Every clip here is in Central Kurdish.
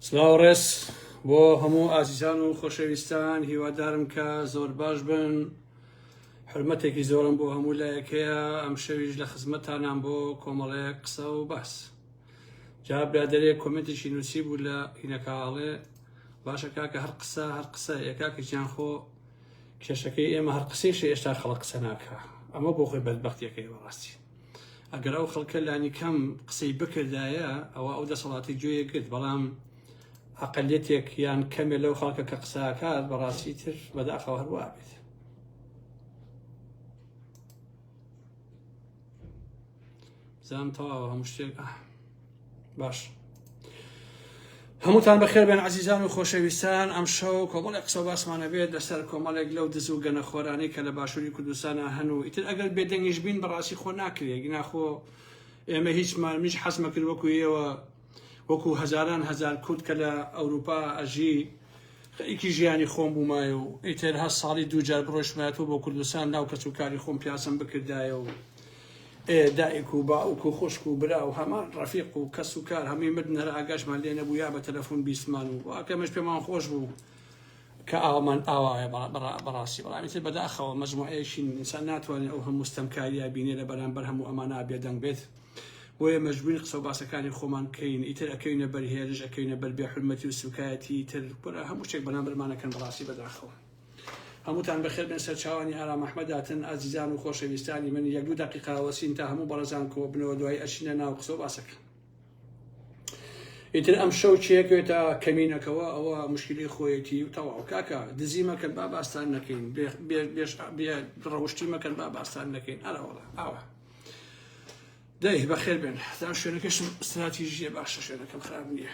سلااو ڕێز بۆ هەموو ئازیزان و خۆشەویستان هیوادارم کە زۆر باش بن حرمەتێکی زۆرم بۆ هەموو لایەکەیە ئەم شەویش لە خزمەتانان بۆ کۆمەڵەیە قسە و باس جا برادێک کۆمنتێکی نووسی بوو لە هینەکاڵێ باشە کاکە هەر قسە هەر قسە یەکاکەیان خۆ کێشەکەی ئێمە هەر قسەیشە ئێستا خەڵق قسە ناکە ئەمە بۆ خۆی بەدبختیەکەی بەڕاستی ئەگەر ئەو خەڵکە لانی کەم قسەی بکردایە ئەوە ئەو دەسەڵاتی گوێیە گرت بەڵام ئەقلەتێک یان کەمێ لەو خەڵکە کە قساکات بەڕاستی تر بەداخەوە هەروە بێت زان تەواوە هەموو شتێک ئە باش هەمووتان بەخێر بێن عزیزان و خۆشەویستان ئەم شەو کۆمەڵێک قسە باسمانە بێت لەسەر کۆمەڵێک لەو دز و گەنەخۆرانی کە لە باشووری کوردستانە هەن و ئیتر ئەگەر بێدەنگیش بین بەڕاستی خۆ ناکرێت گناخۆ ئێمە هیچمان میش حەزمەکرد وەکو ئێوە وەکو هەزاران هەزار کورد کە لە ئەوروپا ئەژی خەریکی ژیانی خۆم بوومایە و ئیتر هە ساڵی دووجار بڕۆشمایەتەوە بۆ کوردستان ناو کەس و کاری خۆم پیاسم بکردایە و ئێ دایک و باوک و خوشک و برا و هەمان ڕەفیق و کەس و کار هەمووی مردن هەر ئاگاشمان لێ نەبوو یا بە تەلەفون بیستمان و وا کەمێش پێمان خۆش بوو کە ئاوامان ئاوایە بەڕا بەڕا بەڕاستی بەڵام ئیتر بەداخەوە مەجموعەیەکی ئینسان ناتوانێ ئەو هەموو ستەمکارییە بینێ لە بەرامبەر هەموو ئەمانە بێدەنگ بێت بۆیە مەجبوورین قسە و باسەکانی خۆمان کەین ئیتر ئەکەوینە بەر هێرش ئەکەوینە بەر بێحورمەتی و سووکایەتی ئیتر کورە هەموو شتێک بەرامبەرمان ئەکەن بەڕاستی بەداخەوە. هەمووتان بەخێر بێن سەرچاوانی ئارام ئەحمەد هاتن ئازیزان و خۆشەویستانی من یەک دوو دەقیقە ئەوەسین تا هەموو بەڕێزان کۆ بنەوە دوایی ئەچینە ناو قسە و باسەکە ئیتر ئەم شەو چێکێتە کەمینەکەەوە ئەوە مشکلی خۆیەتی و تەواو کاکە دزی مەکەن با باستان نەکەین ڕەوشتی مەکەن با باستان نەکەین ئەراوەڵە ئاوە دەی بەخێر بێن تا شوێنەکەشم استراتیژیە باشە شوێنەکەم خراپ نییە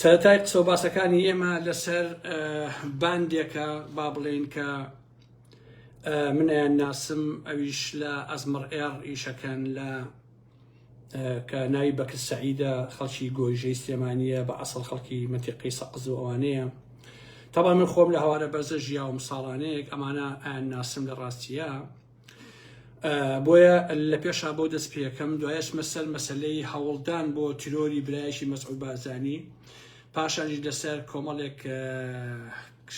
سەرەتای قسە و باسەکانی ئێمە لەسەر باندێکە با بڵێن کە منیان ناسم ئەویش لە ئەزمڕ ئێڕ ئیشەکەن لە کە ناوی بەکر سعیدە خەڵکی گۆیژەی سلێمانیە بە ئەسڵ خەڵکی مەتیقی سەقز و ئەوانەیە تەبا من خۆم لە هەوارە بەرزە ژیاوم ساڵانەیەک ئەمانە ئەیان ناسم لە ڕاستیە بۆیە لە پێشا بۆ دەست پێەکەم دوایش مەسەر مەسلەی هەوڵدان بۆ تیرۆری برایشی مەسعود بارزانی پاشانیش لەسەر کۆمەڵێک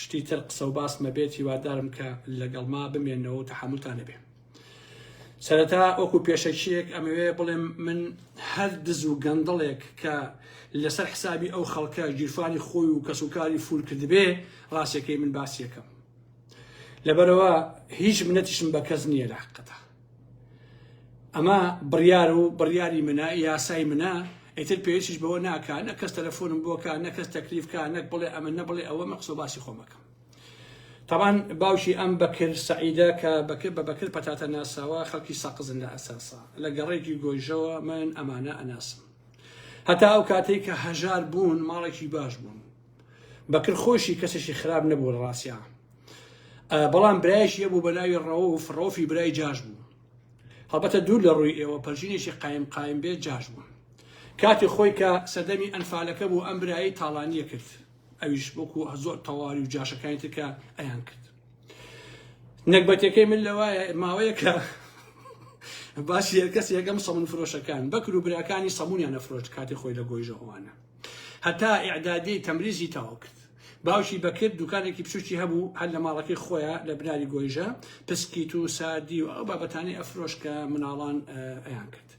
شتی تر قسە و باسمە بێت هیوادارم کە لەگەڵ ما بمێنەوە و تەحملتان نەبێ سەرەتا ئۆکو پێشەکیەک ئەمەوێ بڵێم من هەر دز و گەندڵێک کە لەسەر حسابی ئەو خەڵکە گیرفانی خۆی و کەسوکاری فولکردبێ ڕاستەکەی من باسیەکەم لەبەرەوە هیچ منەتیشم بە کەس نییە لە حقەتە ئەمە بڕیار و بڕیاری منە یاسای منە ئیتر پێشش بەوە ناکە نە کەس تەلەفۆنم بۆکە نە کەس تەکلیفکە نەک بڵێ ئەمە نە بڵێ ئەوە مە قسە باسی خۆمەکەم تاوان باوشی ئەم بەکرد سعیدە کە بەکرد بە بەکرد پەتاتە ناساوە خەڵکی سەقزن لە ئەساسا لە گەڕێکی گۆیژەوە من ئەمانە ئەناسم هەتا ئەو کاتێک کە هەژار بوون ماڵێکی باش بوون بەکر خۆشی کەسێکی خراپ نەبوو لە ڕاستیا بەڵام برایشی هەبوو بە ناوی ڕەوف ڕۆفی برای جاش بوو هەڵبەتە دوور لە ڕووی ئێوە پەرژینێکی قایم قایم بێ جاش بوو کاتی خۆی کە سەدەمی ئەنفالەکە بوو ئەم برایی تاڵانیە کرد ئەویش بۆکو زۆر تەواوی و جاشەکانی ترکە ئەیان کرد نەکبەتەکەی من لەوایە ماوەیە کە باسی هەرکەس یەکەم سەمون فرۆشەکان بەکر و براکانی سەمونیان نەفرۆشت کاتی خۆی لە گۆیژەوانە هەتا ئیعدادیەی تەمریزی تەواو کرد. باوکی بەکر دوکانێکی بچوکی هەبوو هەر لە ماڵەکەی خۆیا لە بناری گۆیژە، پسکیت و ساردی و ئەو بابەتانەی ئەفرۆشت کە مناڵان ئەیان کرد.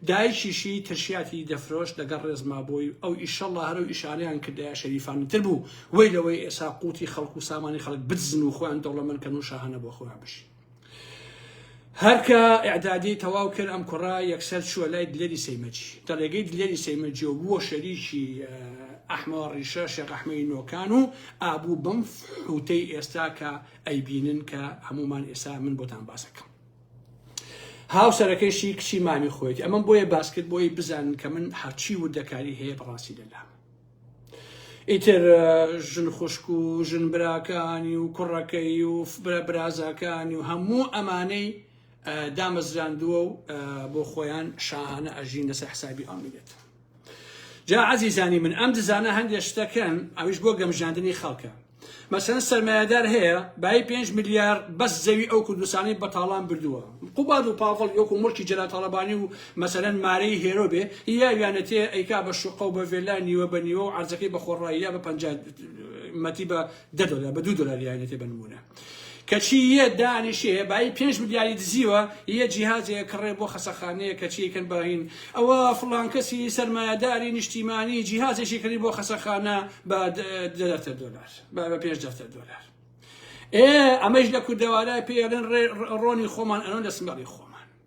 دایکیشی ترشیاتی دەفرۆشت لەگەڵ ڕێزما بۆی، ئەو ئیشەڵا هەر ئەو ئیشانەیان کردایە شەریفانەتر بوو، وەی لەوەی ئێسا قوتی خەڵک و سامانی خەڵک بدزن و خۆیان دەوڵەمەند کەن و شاهانە بۆ خۆیان بژین. هەر کە ئیعدادی تەواو کرد ئەم کوڕە یەکسەر چووە لای دلێری سەیمەجی تەڕێگەی دلێری سەیمەجی و بووە شەریکی ئەحمەوە ڕیشە شێخ ئەحمەی نۆکان و ئابوو بەم حوتەی ئێستا کە ئەیبینن کە هەمومان ئێستا من بۆتان باسەکەم هاوسەرەکەشی کچی مامی خۆیت ئەمەم بۆیە باسکرد بۆی بزانن کە من هەرچی وردەکاری هەیە بەڕاستی لەلام ئیتر ژن خوشک و ژن براکانی و کوڕەکەی و برا برازاکانی و هەموو ئەمانەی دامەزراندووە و بۆ خۆیان شاهانە ئەژین لەسەر حسابی ئەو میلەتە جا عزیزانی من ئەم دزانە هەندێک شتەکەن ئەویش بۆ گەمژاندنی خەڵکە مەسەن سەرمایەدار هەیە بای پێنج ملیار بەس زەوی ئەو کوردستانی بە تاڵان بردووە قوباد و پاڤڵ یۆک و مڵکی جەلا تاڵەبانی و مەسەرەن مارەی هێرۆ بێ یا ویانەتێ ئەیکا بە شوقە و بە ڤێلا نیوە بە نیوە و عرزەکەی بە خۆڕایی یا بە پەنجا مەتی بە دە دۆلار بە دوو دۆلار یانەتێ بە نمونە کەچی یە دانیشێ بایی پێنج ملیاری دزیوە یە جیهازێ کڕێ بۆ خەسەخانەیە کەچی یەکەن باین ئەوە فڵان کەسی سەرمایەداری نیشتیمانی جیهازێکی کڕی بۆ خەسەخانە بە دەفتەر دۆلار بە بە پێنج دەفتەر دۆلار ئێ ئەمەش لە کوردەوارای پێڵێن ڕۆنی خۆمان ئەنۆ لە سمەڵی خۆمان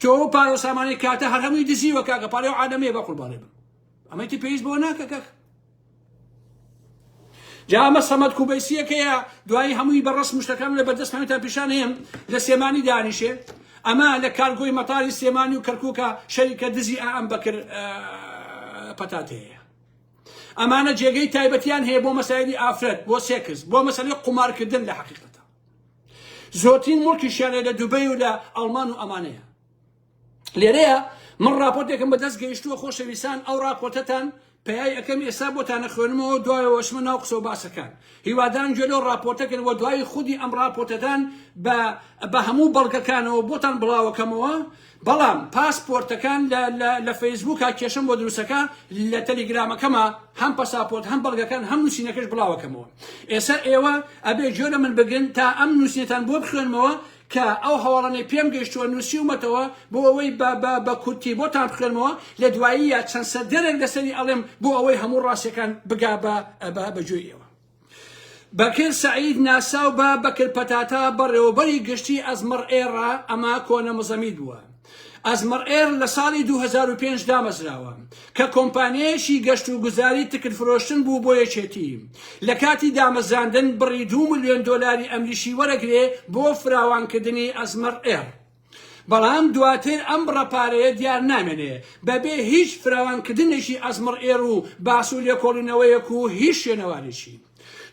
تۆ ئەو پارە و سامانەی کاتە هەر هەمووی دزیوە کاکە پارەی و عادەمەیە بە قوربانێ بم ئەمەی تر پێویست بۆ ناکە کاکە جا ئەمە سەمەد کوبەیسیەکەیە دوایی هەمووی بە ڕسم شتەکان لە بەردەست هەمێتان پیشان هەیە لە سێمانی دانیشێ ئەمە لە کارگۆی مەتاری سێمانی و کەرکووکە شەریکە دزی ئەم بەکر پەتاتەیە ئەمانە جێگەی تایبەتیان هەیە بۆ مەسایلی ئافرەت بۆ سێکس بۆ مەسەلی قومارکردن لە حقیقەتە زۆرترین مڵکیشیان لە دوبەی و لە ئەڵمان و ئەمانەیە لێرەیە من راپۆرتێکم بەدەست گەیشتووە خۆشەویستان ئەو راپۆرتەتان پیای ئەەکەم ئێستا بۆتانە خوێنمەوە دوایەوەشمە ناو قسە و باسەکان هیوادان گوێ لەو راپۆرتەکەن وە دوایی خودی ئەم راپۆرتەدان بە هەموو بەڵگەکانەوە بۆتان بڵاوەکەمەوە بەڵام پاسپۆرتەکان لە لە لە فەیسبووکا کێشەم بۆ دروستەکا لە تەلیگرامەکەما هەم پەساپۆرت هەم بەڵگەکان هەم نووسینەکەش بڵاوەکەمەوە ئێسا ئێوە ئەبێ جۆ لە من بگرن تا ئەم نووسینەتان بۆ بخوێنمەوە کە ئەو هەواڵانەی پێم گەشتووە نووسیومەتەوە بۆ ئەوەی بە بە بە کورتی بۆتان بخوێنمەوە لە دوایی یا چەند سەردەرێک لەسەری ئەڵێم بۆ ئەوەی هەموو ڕاستیەکان بگا بە بە بە جۆی ئێوە بەکر سەعید ناساو بە بەکر پەتاتە بەڕێوەبەری گشتی ئەزمڕ ئێڕ ئەمە کۆنە مزەمیت بووە. ئەزمڕ ئێڕ لە ساڵی دوو هەزار و پێنج دامەزراوە کە کۆمپانیایەکی گەشت و گوزاری تکت فرۆشتن بوو بۆ یەکێتی. لە کاتی دامەزراندن بڕی دوو ملیۆن دۆلاری ئەمریشی وەرەگرێ بۆ فراوانکردنی ئەزمڕ ئێڕ. بەڵام دواتر ئەم بڕە پارەیە دیار نامێنێ بەبێ هیچ فراوانکردنێکی ئەزمڕ ئێر و باس و لێکۆڵینەوەیەک و هیچ شوێنەوارێکی.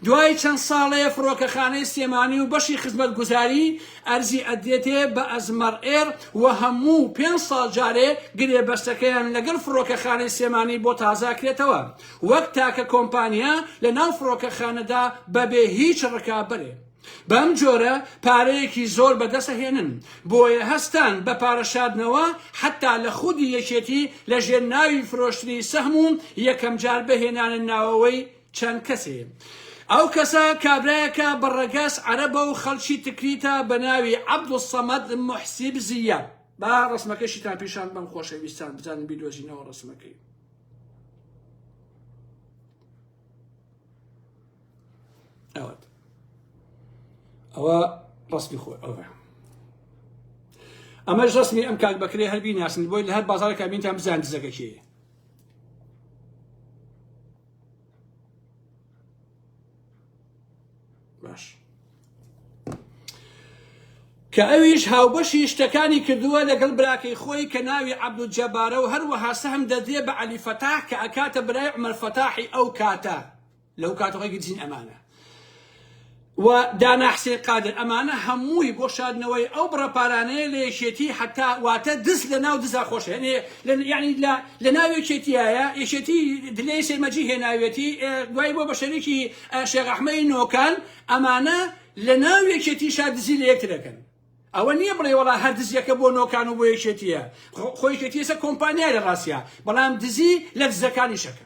دوای چەند ساڵێ فڕۆکەخانەی سلێمانی و بەشی خزمەتگوزاری ئەرزی ئەدرێتێ بە ئەزمەڕ ئێر و هەموو پێنج ساڵ جارێ گرێبەستەکەیان لەگەڵ فڕۆکەخانەی سلێمانی بۆ تازاکرێتەوە وەک تاکە کۆمپانیا لە ناو فڕۆکەخانەدا بەبێ هیچ ڕکابەرێ. بەم جۆرە پارەیەکی زۆر بەدەست ئەهێنن، بۆیە هەستان بە پارە شاردنەوە حەتا لە خودی یەکێتی لە ژێر ناوی فرۆشتنی سەهم و یەکەم جار بهێنانە ناوەوەی چەند کەسێ. ئەو کەسە کابرایەکە بە ڕەگەز عەرەبە و خەڵکی تکریتە بە ناوی عەبدولسەمەد موحسیب زییە. با ڕەسمەکەشیتان پیشان بدەم خۆشەویستان بزانن بیدۆزینەوە ڕەسمەکەی. ئەوەت ئەوە ڕسمی خۆ ئەوە ئەمەش ڕسمی ئەم کاک بەکرێ هەر بیناسن بۆی لە هەر بازارێکا بینتان بزان دزەکە کێ باش کە ئەویش هاوبەشی شتەکانی کردووە لەگەڵ براکەی خۆی کە ناوی عبدول جەبارە و هەروەها سەهم دەدرێ بە علی فەتاح کە ئەکاتە برای عمر فەتاحی ئەو کاتە لەو کاتە ڕێگرتین ئەمانە و دانا حسێن قادر ئەمانە هەمووی بۆ شادنەوەی ئەو بڕە پارانەیە لە یەکێتی حتا واتە دز لە ناو دزا خۆش هێنێ ینی لە ناو یەکێتیایە یەکێتی دلێ سێمەجی هێناوێتی دوای بۆ بە شەرێکی شێغەحمەی نۆکان ئەمانە لە ناو یەکێتی شادزی لە یەکتر دەکەن ئەوە نییە بڵێ وڵا هەر دزیەکە بۆ نۆکان و بۆ یەکێتیە خۆیکێتیسە کۆمپانیای لە ڕاستە بەڵام دزی لە دزەکانی شەکە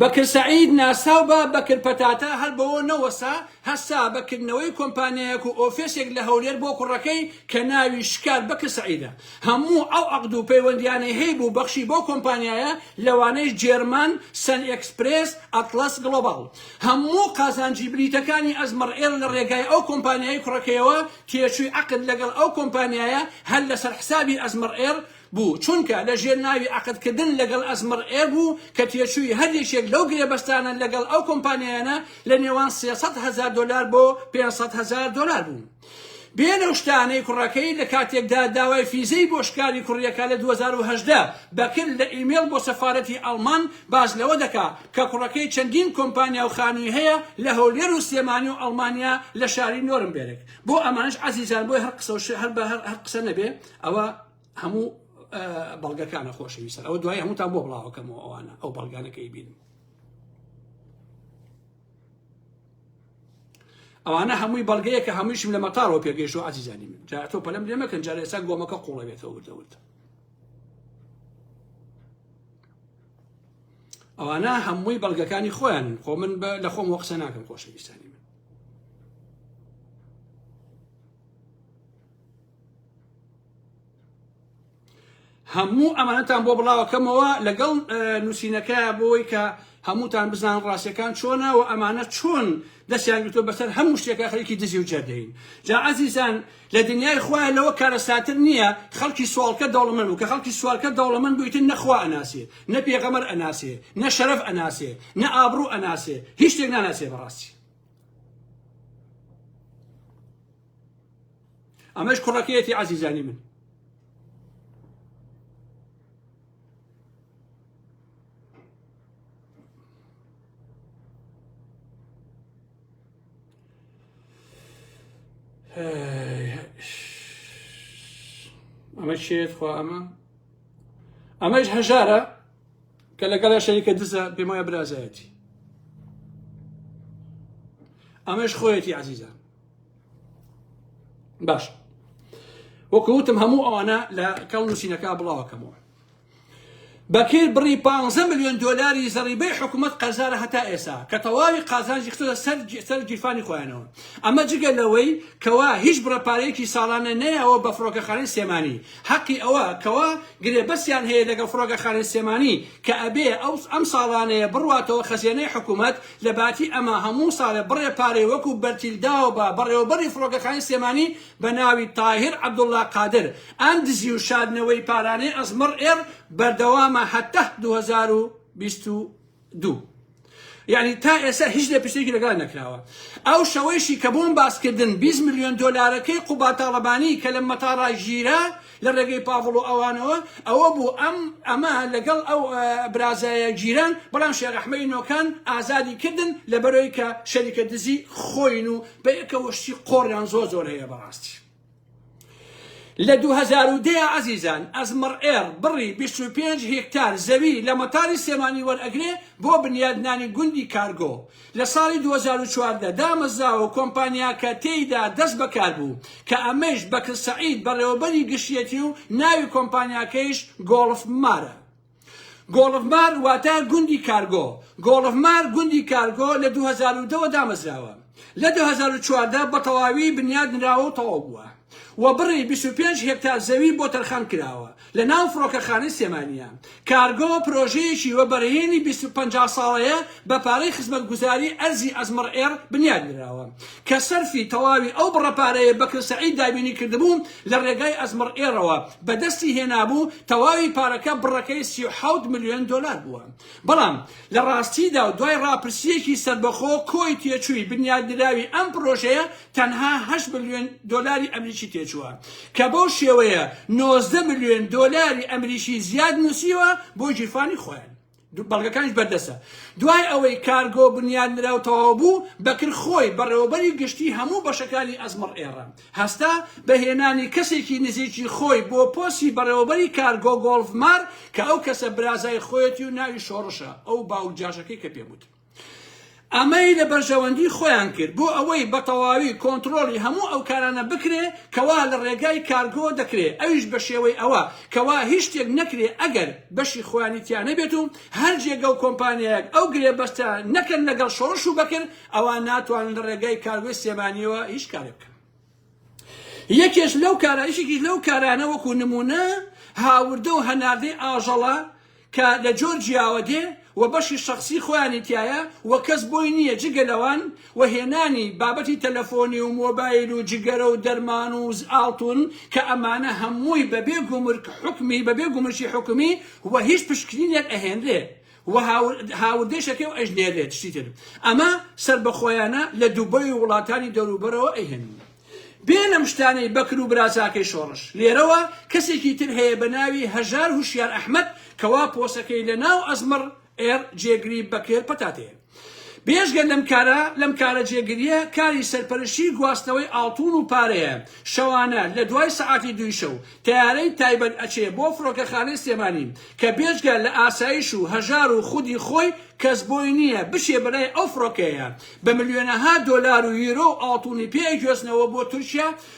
بەکر سەعید ناساو بە بەکر پەتاتە هەر بەوە نەوەسا هەستا بەکردنەوەی کۆمپانیایەک و ئۆفێسێک لە هەولێر بۆ کوڕەکەی کە ناوی شکار بەکر سەعیدە هەموو ئەو عەقد و پەیوەندیانەی هەی بوو بەخشی بۆ کۆمپانیایە لەوانەیش جێرمان سەن ئێکسپرێس ئەتڵەس گڵۆباڵ هەموو قازانجی بلیتەکانی ئەزمەڕ ئێر لە ڕێگای ئەو کۆمپانیای کوڕەکەیەوە تێچووی عەقد لەگەڵ ئەو کۆمپانیایە هەر لەسەر حسابی ئەزمەڕ ئێر بوو، چونکە لە ژێر ناوی عەقدکردن لەگەڵ ئەزمڕ ئێر بوو کە تێچووی هەر یەکێک لەو گرێبەستانە لەگەڵ ئەو کۆمپانیایانە لە نێوان سێ سەد هەزار دۆلار بۆ پێنج سەد هەزار دۆلار بوو. بێ لەو شتانەی کوڕەکەی لە کاتێکدا داوای فیزەی بۆ شکاری کوڕیەکە لە دوو هەزار و هەژدە بەکرد لە ئیمێڵ بۆ سەفارەتی ئەڵمان باس لەوە دەکا کە کوڕەکەی چەندین کۆمپانیا و خانووی هەیە لە هەولێر و سلێمانی و ئەڵمانیا لە شاری نۆرمبێرگ بۆ ئەمانەش عەزیزان بۆی هەر قسە و هەر قسە نەبێ ئەوە هەموو بەڵگەکانە خۆشەویستە ئەوە دوای هەمووتان بۆ بڵاوەکەمەوە ئەوانە ئەو بەڵگانەکەی بین ئەوانە هەمووی بەڵگەیە کە هەموویشم لە مەتارەوە پێگەیشت و عزیزانی من جا تۆ پەلم لێ مەکەن جارە ئێستا گۆمەکە قوڵەوێتەوە وردەورد ئەوانە هەمووی بەڵگەکانی خۆیان خۆ من لە خۆم وە قسە ناکەم خۆشەویستانی هەموو ئەمانەتان بۆ بڵاوەکەمەوە لەگەڵ نووسینەکە بۆی کە هەمووتان بزان ڕاستەکان چۆنە و ئەمانە چۆن دەستیان گرتۆ بەسەر هەموو شتێکە خەڵکی دزی و جەردەین جا عزیزان لە دنیای خۆیان لەوە کارەساتر نییە خەڵکی سوالکە دەوڵەمەند و کە خەڵکی سوالکە دەوڵەمەند بوویتن نەخوا ئەناسێ نە پێغەمەر ئەناسێ نە شەرەف ئەناسێ نە ئابڕوو ئەناسێ هیچ شتێک ناناسێ بەڕاستی ئەمەش کوڕەکەیەتی عزیزانی من ئەمە شێت خوا ئەمە ئەمەش هەژارە کە لەگەڵ شەریکە دزە پێمایە برازایەتی ئەمەش خۆیەتی عزیزە باش وەکوتم هەموو ئەوانە لە کەڵ نووسینەکە بڵاوەکەمەوە بەکر بڕی 15 میلیۆن دلاری زەڕیبەی حکوومەت قەرزارە هەتا ئێسا کە تەواوی قازانجی خستە سەر سەر گیرفانی خۆیانەوە ئەمە جگە لەوەی کەوا هیچ بڕەپارەیەکی ساڵانە نەیەوە بە فڕۆکەخانەی سێمانی حەقی ئەوە کەوا گرێبەسیان هەیە لەگە فڕۆگەخانەی سێمانی کە ئەبێ ئەو ئەم ساڵانەیە بڕاتەوە خەزێنەی حکوومەت لە باتی ئەمە هەموو ساڵێ بڕێ پارەی وەکو بەرتیل داوبە بەڕێوەبەری فڕۆکەخانەی سلێمانی بە ناوی تاهیر عەبدوڵا قادر، ئەم دزی و شاردنەوەی پارانەی ئەسمڕ ئێڕ بەردەوامە هەتە دوو هەزار و بیست و دوو. یانی تا ئێستا هیچ لێپرسێکی لەگەڵا نەکراوە. ئەو شەوەیشی کە بۆم باسکردن بیست ملیۆن دۆلارەکەی قوباد تاڵەبانی کە لە مەتاڕا گیرا لە ڕێگەی پاڤڵ و ئەوانەوە ئەوە بوو ئەم ئەمە لەگەڵ ئەو برازایە گیران بەڵام شێخ ئەحمەی نۆکان ئازادی کردن لە بەرەوەی کە شەریکە دزی خۆین و بە یەکەوە شتی قۆڕیان زۆر زۆر هەیە بەڕاستی لە 2010 عزیزان ئەزمڕ ئێر بڕی 25 هێکتار زەوی لە مەتاری سێمانی وەرئەگرێ بۆ بنیادنانی گوندی کارگۆ لە ساڵی دوو هەزار و چواردە دامەزراوە کۆمپانیاکە تێیدا دەست بەکار بوو، کە ئەمەیش بەکر سەعید بەڕێوەبەری گشتیەتی و ناوی کۆمپانیاکەیش گۆڵف مارە. گۆڵف مار واتە گوندی کارگۆ. گۆڵف مار گوندی کارگۆ لە دوو هەزار و دە وە دامەزراوە. لە دوو هەزار و چواردە بەتەواوی بنیاد نراوە و تەواو بووە. و بڕی بیست و پێنج هێکتار زەوی بۆ تەرخان کراوە لە ناو فڕۆکەخانەی سلێمانییە. کارگۆ پرۆژەیەکی وەبەرهێنی بیست و پەنجا ساڵەیە بە پارەی خزمەتگوزاری ئەرزی ئەزمڕ ئێڕ بنیات نراوە کە سەرفی تەواوی ئەو بڕە پارەیە بەکر سەعید دابینی کردبوو لە رێگای ئەزمڕ ئێڕەوە بە دەستی هێنابوو تەواوی پارەکە بڕەکەی سی و حەوت ملیۆن دۆلار بووە بەڵام لە راستیدا و دوای راپرسییەکی سەربەخۆ کۆی تێچووی بنیات نراوی ئەم پرۆژەیە تەنها هەشت ملیۆن دۆلاری ئەمریکی تێچووە، کە بەو شێوەیە نۆزدە ملیۆن دۆلاری ئەمریکی زیاد نووسیوە بۆ گیرفانی خۆیان، بەڵگەکانیش بەردەستە. دوای ئەوەی کارگۆ بنیادنراو تەواوبوو، بەکر خۆی بەڕێوەبەری گشتی هەموو بەشەکانی ئەزمەڕ ئێڕە هەستا بە هێنانی کەسێکی نزیکی خۆی بۆ پۆستی بەڕێوەبەری کارگۆ گۆڵفمار کە ئەو کەسە برازای خۆیەتی و ناوی شۆڕشە ئەو باوک جاشەکەی کە پێم وت ئەمەی لە بەرژەوەندی خۆیان کرد بۆ ئەوەی بە تەواوی کۆنترۆڵی هەموو ئەو کارانە بکرێ کەوا لە ڕێگای کارگۆ دەکرێ ئەویش بە شێوەی ئەوە کەوا هیچ شتێک نەکرێ ئەگەر بەشی خۆیانی تیا نەبێت و هەر جێگە و کۆمپانیایەک ئەو گرێبەستە نەکەن لەگەڵ شۆڕش و بەکر ئەوا ناتوانن لە ڕێگای کارگۆی سێبانیەوە هیچ کارێک بکەن. یەکێش لەو کارە یەکێکیش لەو کارانە وەکو نمونە هاوردە و هەناردەی ئاژەڵە کە لە جۆر جیاوە دێ و بەشی شخصی خۆیانی تایە و کەس بۆی نییە جگە لەوان و هێنانی بابەتی تەلەفۆنی و مۆبایل و جگەرە و دەرمان و ئاڵتون کە ئەمانە هەمووی بەبێ گومرک حکومی بەبێ گومرکی حکومی و هیچ پشکنینێک ئەهێنرێ و هاوردەش ئەکەی و ئەیژمێرێت شتی تر ئەمە سەربەخۆیانە لە دوبەی و وڵاتانی دەوروبەرەوە ئەیهێنن بێ لەم شتانەی بەکر و برازاکەی شۆڕش لێرەوە کەسێکی تر هەیە بە ناوی هەژار هوشیار ئەحمەد کەوا پۆسەکەی لە ناو ئەزمڕ ئێر جێگری بەکر پەتاتەیە بێجگە لەم کارە، لەم کارە جێگرییە کاری سەرپەرشتیی گواستنەوەی ئاڵتوون و پارەیە، شەوانە لە دوای سەعاتی دووی شەو تەیارەی تایبەت ئەچێ بۆ فڕۆکەخانەی سلێمانی کە بێجگە لە ئاسایش و هەژار و خودی خۆی کەس بۆی نییە بچێ بەلای ئەو فڕۆکەیە بە ملیۆنەها دۆلار و یورۆ و ئاڵتوونی پێ ئەگوێزنەوە بۆ تورکیا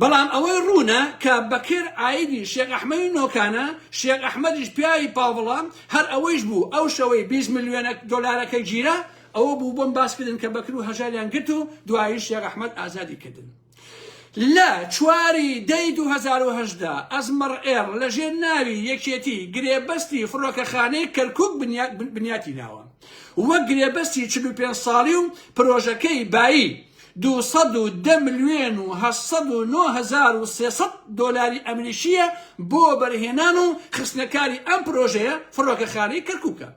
بەڵام ئەوەی ڕوونە کە بەکر عایدی شێخ ئەحمەدی نۆکانە، شێخ ئەحمەدیش پیاوی پاڤڵە، هەر ئەوەیش بوو ئەو شەوەی بیست ملیۆن دۆلارەکەی گیرا، ئەوە بوو بۆم باس کردن کە بەکر و هەژاریان گرت و دوایی شێخ ئەحمەد ئازادی کردن. لە چوار ی دە ی دوو هەزار و هەژدە ئەزمەڕ ئێڕ لە ژێر ناوی یەکێتی گرێبەستی فڕۆکەخانەی کەرکوک بنیاتی ناوە وەک گرێبەستی چل و پێنج ساڵی و پرۆژەکەی بایی دوو سەد و دە ملیۆن و هەشت سەد و نۆ هەزار و سێ سەد دۆلاری ئەمریکییە بۆ وەبەرهێنان و خستنەکاری ئەم پرۆژەیە فڕۆکەخانەی کەرکووکە.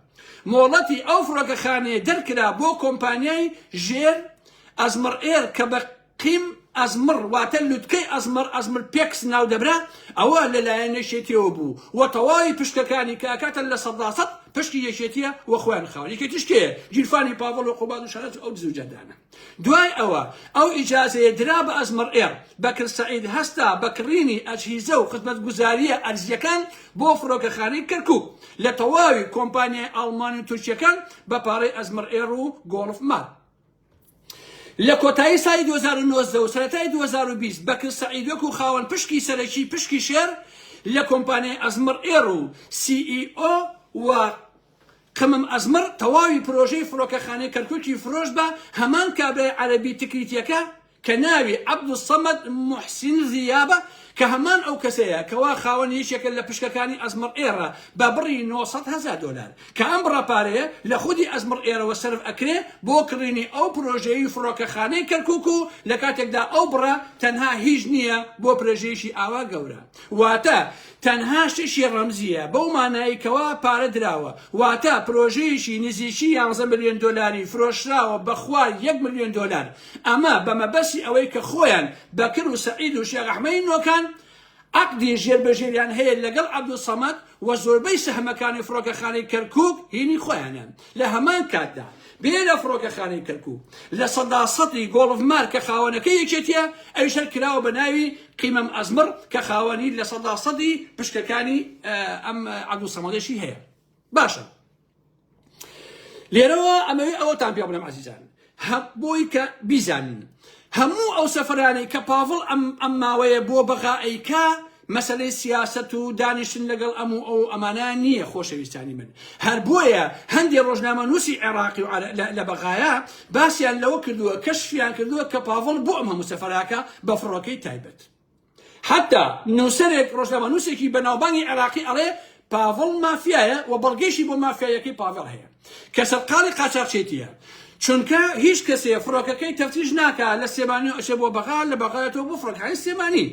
مۆڵەتی ئەو فڕۆکەخانەیە دەرکرا بۆ کۆمپانیای ژێر ئەزمڕ ئێر کە بە قیم ئەزمڕ واتە لوتکەی ئەزمەڕ ئەزمر پێکس ناودەبرا، ئەوە لەلایەن یەکێتییەوە بوو و تەواوی پشکەکانی کە ئەکاتە لە سەداسەد پشکی یەکێتییە و خۆیان خاوەن یەکێتیش کێیە؟ گیرفانی پاڤڵ و قوباد و شەرەف و ئەو دز و جەردانە. دوای ئەوە ئەو ئیجازەیە درا بە ئەزمەڕ ئێڕ. بەکر سەعید هەستا بە کڕینی ئەجهیزە و خزمەتگوزارییە ئەرزییەکان بۆ فڕۆکەخانەی کەرکووک لە تەواوی کۆمپانیای ئاڵمانی و تورکییەکان بە پارەی ئەزمەڕ ئێڕ و گۆڵف مال. لە کۆتایی ساڵی دوو هەزار و نۆزدە و سەرەتای دوو هەزار و بیست بەکر سەعید وەکوو خاوەن پشکی سەرەکی پشکی شێر لە کۆمپانیای ئەزمەڕ ئێڕ و سی ئی ئۆ و قمم ئەزمەڕ تەواوی پرۆژەی فڕۆکەخانەی کەرکوکی فرۆشت بە هەمان کابرای عەرەبی تکریتیەکە کە ناوی، عەبدولسەمەد موحسین ضیا، بە کە هەمان ئەو کەسەیە کەوا خاوەن یەکێکە لە پشکەکانی ئەزمەڕ ئێڕە بە بڕی نۆ سەد هەزار دۆلار کە ئەم بڕە پارەیە لە خودی ئەزمڕ ئێرەوە سەرف ئەکرێ بۆ کڕینی ئەو پرۆژەی فڕۆکەخانەی کەرکوک و لە کاتێکدا ئەو بڕە تەنها هیچ نیە بۆ پرەژەیەکی ئاوا گەورە واتە تەنها شتێکی ڕەمزییە بەو مانایەی کەوا پارە دراوە، واتە پرۆژەیەکی نزیکی یانزە ملیۆن دۆلاری فرۆشراوە بە خوار یەک ملیۆن دۆلار، ئەمە بە مەبەستی ئەوەی کە خۆیان بەکر و سەعید و شێخ ئەحمەدی نۆکان عەقدی ژێربەژێریان هەیە لەگەڵ عەبدولسەمەد و زۆربەی سەهمەکانی فڕۆکەخانەی کەرکوک هینی خۆیانە. لە هەمان کاتدا بێرە فڕۆکەخانەی کەرکوک لە سەدا سەدی گۆڵف مار کە خاوەنەکە یەکێتیە ئەویش هەر کراوە بە ناوی قیمەم ئەزمڕ کە خاوەنی لە سەدا سەدی پشکەکانی ئەم عەبدول سەمەدەشی هەیە باشە لێرەوە ئەمەوێ ئەوەتان پێ بڵێم عزیزان هەب بۆی کە بیزانین هەموو ئەو سەفرانەی کە پاڤڵ ئەم ئەم ماوەیە بۆ بەغا ئەیکا مەسەلەی سیاسەت و دانیشتن لەگەڵ ئەم و ئەو ئەمانە نییە خۆشەویستانی من هەر بۆیە هەندێ ڕۆژنامەنووسی عێراقی و لە بەغایە باسیان لەوە کردووە کەشفیان کردووە کە پاڤڵ بۆ ئەم هەموو سەفراکە بە فڕۆکەی تایبەت حەتا نووسەرێک ڕۆژنامەنووسێکی بەناوبانگی عێراقی ئەڵێ پاڤڵ مافیایە و بەڵگەیشی بۆ مافیاییەکەی پاڤێڵ هەیە کە سەرقاڵی قاچاخچێتییە چونکە هیچ کەسێ فڕۆکەکەی تەفتیش ناکا لە سلێمانی ئەچێ بۆ بەغا لە بەغایەتەوە بۆ فڕۆکەخانەی سلێمانی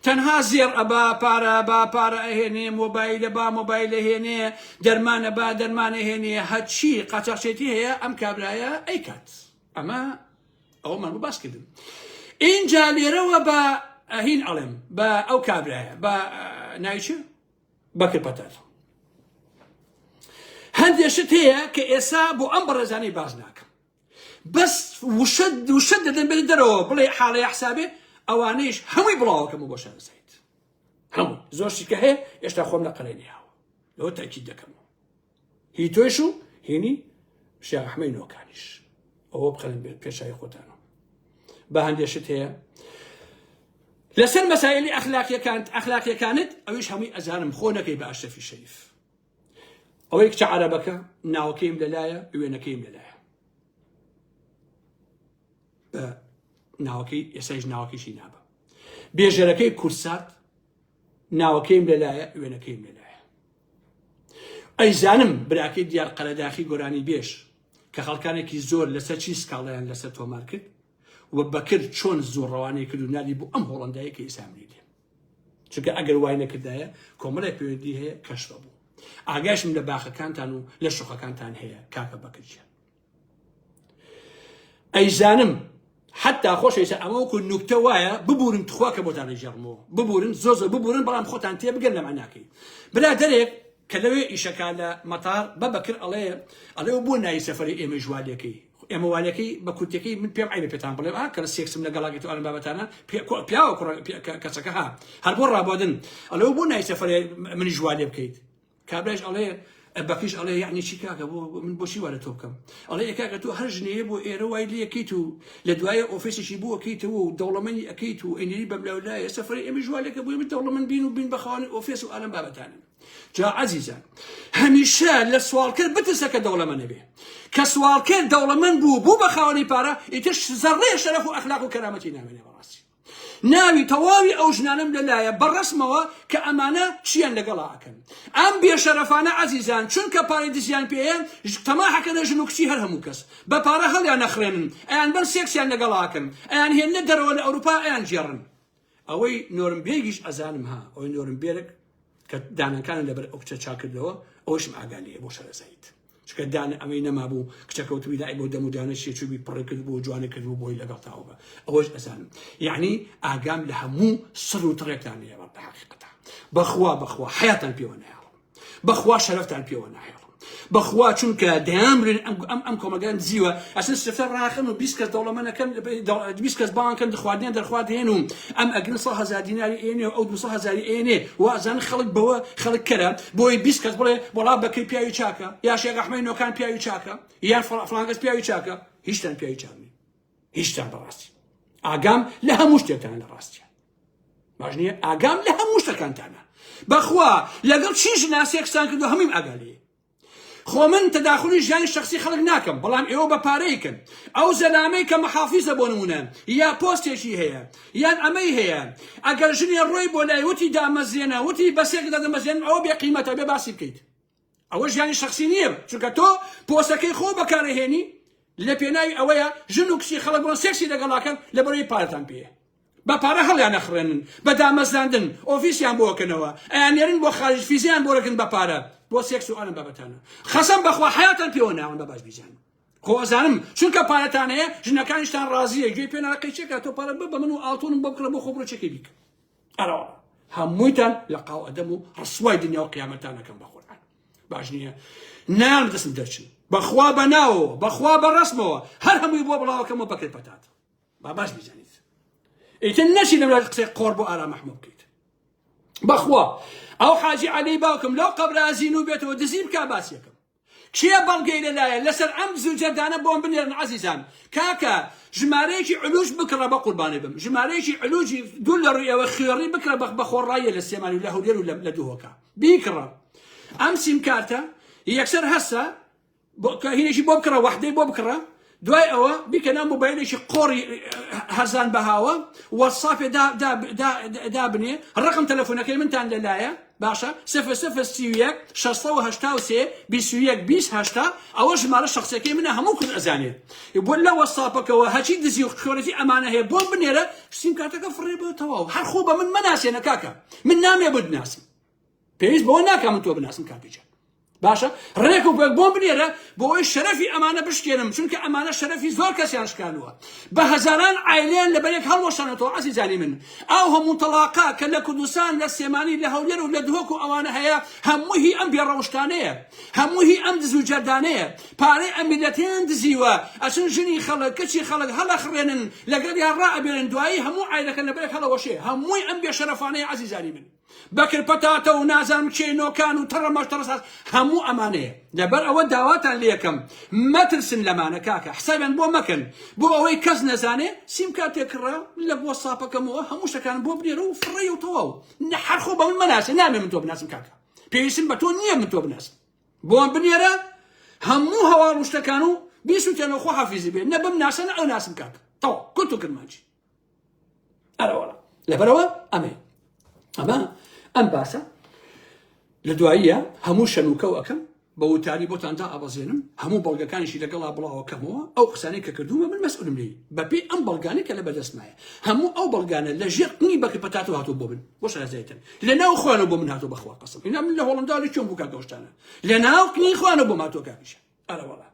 تەنها زێڕ ئەبا پارە با پارە ئەهێنێ مۆبایلە با مۆبایلە هێنێ دەرمانە با دەرمانە هێنێ هەچی قاچاخچێتی هەیە ئەم کابرایە ئەیکات ئەمە ئەوەمان بۆ باس کردن ئینجا لێرەوە بە ئەهین ئەڵێم بە ئەو کابرایە بە ناویچ بەکر پەتەر هەندێ شت هەیە کە ئێسا بۆ ئەم بەڕێزانەی باز ناکەم بەس وشە وشە دەدەن بێت دەرەوە بڵێ حاڵەیە حسابێ ئەوانەیش هەمووی بڵاوەکەم و بۆشان زیت هەموو زۆر شتکە هەیە ئێستا خۆم لە قەلێنیاوە لەوە تاکی دەکەم هی تۆیش و هینی شێخ ئەحمەی نۆکانیش ئەوە بخەن پێشای خۆتانەوە بە هەندێک شت هەیە لەسەر مەسایلی ئەخلاقیەکانت ئەخلاقیەکانت ئەویش هەمووی ئەزانم خۆ نەکەی بە ئەشرەفی شەریف ئەوەی کچە عربەکە ناوەکەیم لەلایە وێنەکەیم لەلایە بە ناوەکەی ئێسایش ناوەکەشی نابە بێژەرەکەی کورسات ناوەکەیم لەلایە وێنەکەیم لەلایە ئەیزانم براکەی دیار قەرەداخی گۆرانی بێژ کە خەڵکانێکی زۆر لەسەر چی سکاڵیان لەسەر تۆمار کرد و بەکر چۆن زۆر ڕەوانەی کرد و نادی بۆ ئەم هۆڵندایە کە ئیسامری لێ چونکە ئەگەر وای نەکردایە کۆمەڵی پێوەندی هەیە کەشبە بوو ئاگاشم لە باخەکانتان و لە شوخەکانتان هەیە کاکە بەکرجیان ئەیزانم حتا خۆش ئێستا ئەمە وەکو نوکتە وایە ببورن تخوا کە بۆتان ئەیژەڕمەوە ببورن زۆ زۆ ببورن بەڵام خۆتان تێ بگەن لە معناکەی برا دەرێک کە لەوێ ئیشەکە لە مەتار بە بەکر ئەڵێ ئەڵێ و بۆ ناوی سەفری ئێمە ژوالەکەی ئێمە والەکەی بە کورتەکەی من پێم عیبە پێتان بڵێ کە لە سێکسم لە گەڵاگەی تو ئەم بابەتانە پیاوە کەسەکە ها هەر بۆ ڕابدن ئەلەوە بۆ نای سەفری منی ژوالێ بکەیت کابرایش ئەڵێ بەکریش ئەڵێ یعنی چی کاکە بۆ من بۆچی وا لە تۆ بکەم ئەڵێ ئێ کاکە تۆ هەر ژنەیە بۆ ئێرە وای لەکەیت و لە دوایە ئۆفیسێکی بۆ ئەکەیتەوە و دەوڵەمەنی ئەکەیت و ئەینەری بەملاولایە سەفری ئەمیش وا لەکە بۆی من دەوڵەمەند بین و بین بەخەوانی ئۆفیس و ئالەم بابەتانن جا عزیزان هەمیشە لە سوالکرد بترسە کە دەوڵەمەنە بێ کە سوالکرد دەوڵەمەند بوو بوو بە خاوەنی پارە ئیتر زەڕێ شەرەف و ئەخلاق و کەرامەتی نامێنێ بەڕاستی ناوی تەواوی ئەو ژنانەم لە لایە بە ڕەسمەوە کە ئەمانە چیان لەگەڵا ئەکەن ئەم بێ شەرەفانە عەزیزان چونکە پارەی دزیان پێیە تەماح ئەکەنە ژن و کچی هەر هەموو کەس بە پارە هەڵیان ئەخڕێنن ئەیان بەن سێکسیان لەگەڵا ئەکەن ئەیان هێننە دەرەوە لە ئەوروپا ئەیان گێڕن ئەوەی نۆرم بێگیش ئەزانم ها ئەوەی نۆرم بێرک کە دانەکانە لەبەر ئەو کچە چاکردەوە ئەوشم ئاگا لێیە بۆ شەرەزایت چکە دان ئەمەی نەمابوو کچە کەوتبی لای بۆ دەم و دانە شێچوبی پڕی کرد بۆ جوانە کرد و بۆی لەگەڵ تاوە بە ئەوەش ئەزانم یعنی ئاگام لە هەموو سڕ و تڕێکتان لێ بە حقیقەتە بەخوا بەخوا حیاتان پێوە نایەڵم بەخوا شەرفتان پێوە نایەڵم بەخوا چونکە دەیان برێن ئەم ئەم کۆمەگەن زیوە ئەسن سفتە ڕاخن و بیست کەس دەوڵەمەنەکەن بیست کەس بانکەن دخواردنیان دەرخوارد هێن و ئەم ئەگرن سە هزار دیناری ئێنێ و ئەو دو هزاری ئێنێ وازان خەڵک بەوە خەڵک کەرە بۆی بیست کەس بڵێ وەڵا بەکری پیاوی چاکە یا شێخ ئەحمەی نۆکان پیاوی چاکە یان فڵان فڵان کەس پیاوی چاکە هیچتان پیاوی چاک نین هیچتان بەڕاستی ئاگام لە هەموو شتێکتان لە ڕاستیان باش نییە ئاگام لە هەموو شتەکانتانە بەخوا لەگەڵ چی ژناسێکسان کردو هەمیم ئاگالی خۆ من تەداخلی ژیانی شخصی خەڵک ناکەم بەڵام ئێوە بە پارەیکن ئەو زەلامەی کە محافیزە بۆ نمونە یا پۆستێکی هەیە یان ئەمەی هەیە ئەگەر ژنێ ڕۆی بۆ لای وتی دامەزێنە وتی بەسێک دەدەمەزێن ئەوە بێ قیمەتە بێ باسی بکەیت ئەوە ژیانی شخصی نییە چونکە تۆ پۆسەکەی خۆ بەکارەهێنی لە پێناوی ئەوەیە ژن و کچی خەڵک بۆن سێکسی لەگەڵاکەن لە بەرەی پارتان پێ بە پارە هەڵیان نەخڕێنن بە دامەزراندن ئۆفیسیان بۆکەنەوە ئەیانێرن بۆ خارج فیزیان بۆرەکن بە پارە بۆ سێکس و ئەم بابەتانە خەسەم بەخوا حیاتان پێوە ناون بە باش بیزانن خۆزانم چونکە پارەتان هەیە ژنەکانیشتان ڕازیە گوێی پێ ناقەی چێکا تۆ پارە بە من و ئاڵتونم بۆ بکڕە بۆ خۆ بڕۆچێکی بیکە ئەرەوە هەموویتان لە قاو ئەدەم و ڕسوای دنیا و قیامەتانەکەم بە قورآن باش نییە نام دەسم دەرچن بەخوا بە ناوەوە بەخوا بە ڕسمەوە هەر هەمووی بۆ بڵاوەکەمەوە بەکرێت پەتات با باش بزانیت ئیتر نەچی لەم قسەی قۆڕ بۆ ئارا مەحموو بکەیت بەخوا ئەو حاجی عەلی باوکم لەو قەبرازین و بێتەوە دزیم کا باسیەکەم کێ بەڵگەی لە لایە لەسەر ئەم دز و جەردانە بۆم بنێرن عەزیزان کاکە ژمارەیەکی علوج بکڕە بە قوربانی بم ژمارەیەکی علوجی دوور لە ڕووی ئێوە خوێڕی بکڕە بە بە خۆڕاییە لە سلێمانی و لە هەولێر و لە دهۆکە بیکڕە ئەم سیمکارتە یەکسەر هەسە بۆ کە هینێکی بۆ بکڕە وەحدەی بۆ بکڕە دوای ئەوە بیکە ناو مۆبایلێکی قۆڕی هەرزان بەهاوە وەسافێ دابنێ ڕقم تەلەفۆنەکەی منتان لەلایە باشە سفر سفر سیویەک شەستەوە هەشتا و سێ بیسویەک بیس هەشتا ئەوە ژمارە شخصەکەی منە هەموو کورد ئەزانێ بۆ لە وەسافەکەەوە هەچی دزی و خۆرەتی ئەمانە هەیە بۆ بنێرە سیم کاتەکە فڕێ بۆ تەواو هەرخۆ بە من مناسێنە کاکە من نامێ بدناسم پێویست بەوە ناکە من تۆ بناسم کاکە جان باشە ڕێک و پێک بۆم بنێرە بۆ ئەوەی شەرەفی ئەمانە بشکێنم چونکە ئەمانە شەرەفی زۆر کەسیان شکانووە بە هەزاران ئایلیان لە بەرێک هەڵوەشانەتەوە عزیزانی من ئەو هەموو تەڵاقا کە لە کوردستان لە سێمانی لە هەولێر و لە دهۆک و ئەوانە هەیە هەمووی ئەم بێڕەوشتانەیە هەمووی ئەم دز و جەردانەیە پارەی ئەمیلەتیان دزیوە ئەچن ژنی خەڵک کچی خەڵک هەڵەخڕێنن لەگەڵ یان ڕائەبێنن دوایی هەموو ئایلەکە لە بەرێک هەڵەوەشێ هەمووی ئەم بێشەرەفانەیە عزیزانی من بەکر پەتاتە و نازانم کێ نۆکان و تەڕە مەش تەڕە ساز هەموو ئەمانەیە لەبەر ئەوە داواتان لێکەم مەترسن لەمانە کاکە حسابیان بۆ مەکەن بۆ ئەوەی کەس نەزانێ سیم کارتێک کڕە لە بۆ ساپەکەمەوە هەموو شتەکان بۆ بنێرە و فڕێ و تەواو نە هەرخۆ بە من مەناسە نامێ من تۆ بناسم کاکە پێویستم بە تۆ نییە من تۆ بناسم بۆم بنێرە هەموو هەواڵ و شتەکان و بیسووتێنەوە خۆ حافیزی بێ نە بم ناسە نە ئەو ناسم کاکە تەواو کورت و کرمانجی ئەرەوەڵە لەبەرەوە ئەمەی ئەمە ئەم باسە لە دواییە هەموو شەنوکەو ئەەکەم بە وتاری بۆتان تا ئابەزێنم هەموو بەڵگەکانیشی لەگەڵا بڵاوەکەمەوە ئەو قسانەی کە کردوومە من مەسئولم لی بەپی ئەم بەڵگانە کە لە بەدەستمایە هەموو ئەو بەڵگانە لە ژێر قنی بەکە پەتات و هاتوو بۆ من بۆ شازایتن لە ناو خوانە بۆ من هاتو بەخوا قسم اینا من لە هۆڵندالی چۆن بووکە دۆشتانە لە ناو قنی خوانە بۆ ماتۆکانیشە ئەرەوەڵا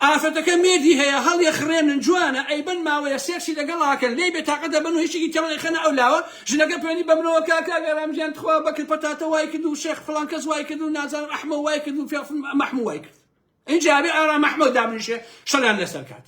ئافرەتەکە مێردی هەیە هەڵیەخڕێنن جوانە ئەیبەن ماوەیە سێکسی لەگەڵاکەن لێی بێتاقەت دەبن و هیچێکی تێڵ ئەیخەنە ئەو لاوە ژنەکە پەیوەندی بەمنەوە کا کاک ئارام گیان تخوا بەکر پەتاتە وای کرد و شێخ فڵان کەس وای کرد و نازانم ئەحمە وای کرد و فێڵ مەحموو وای کرد ئینجا بێ ئارام ئەحمە دابنیشێ شەلان لەسەر کات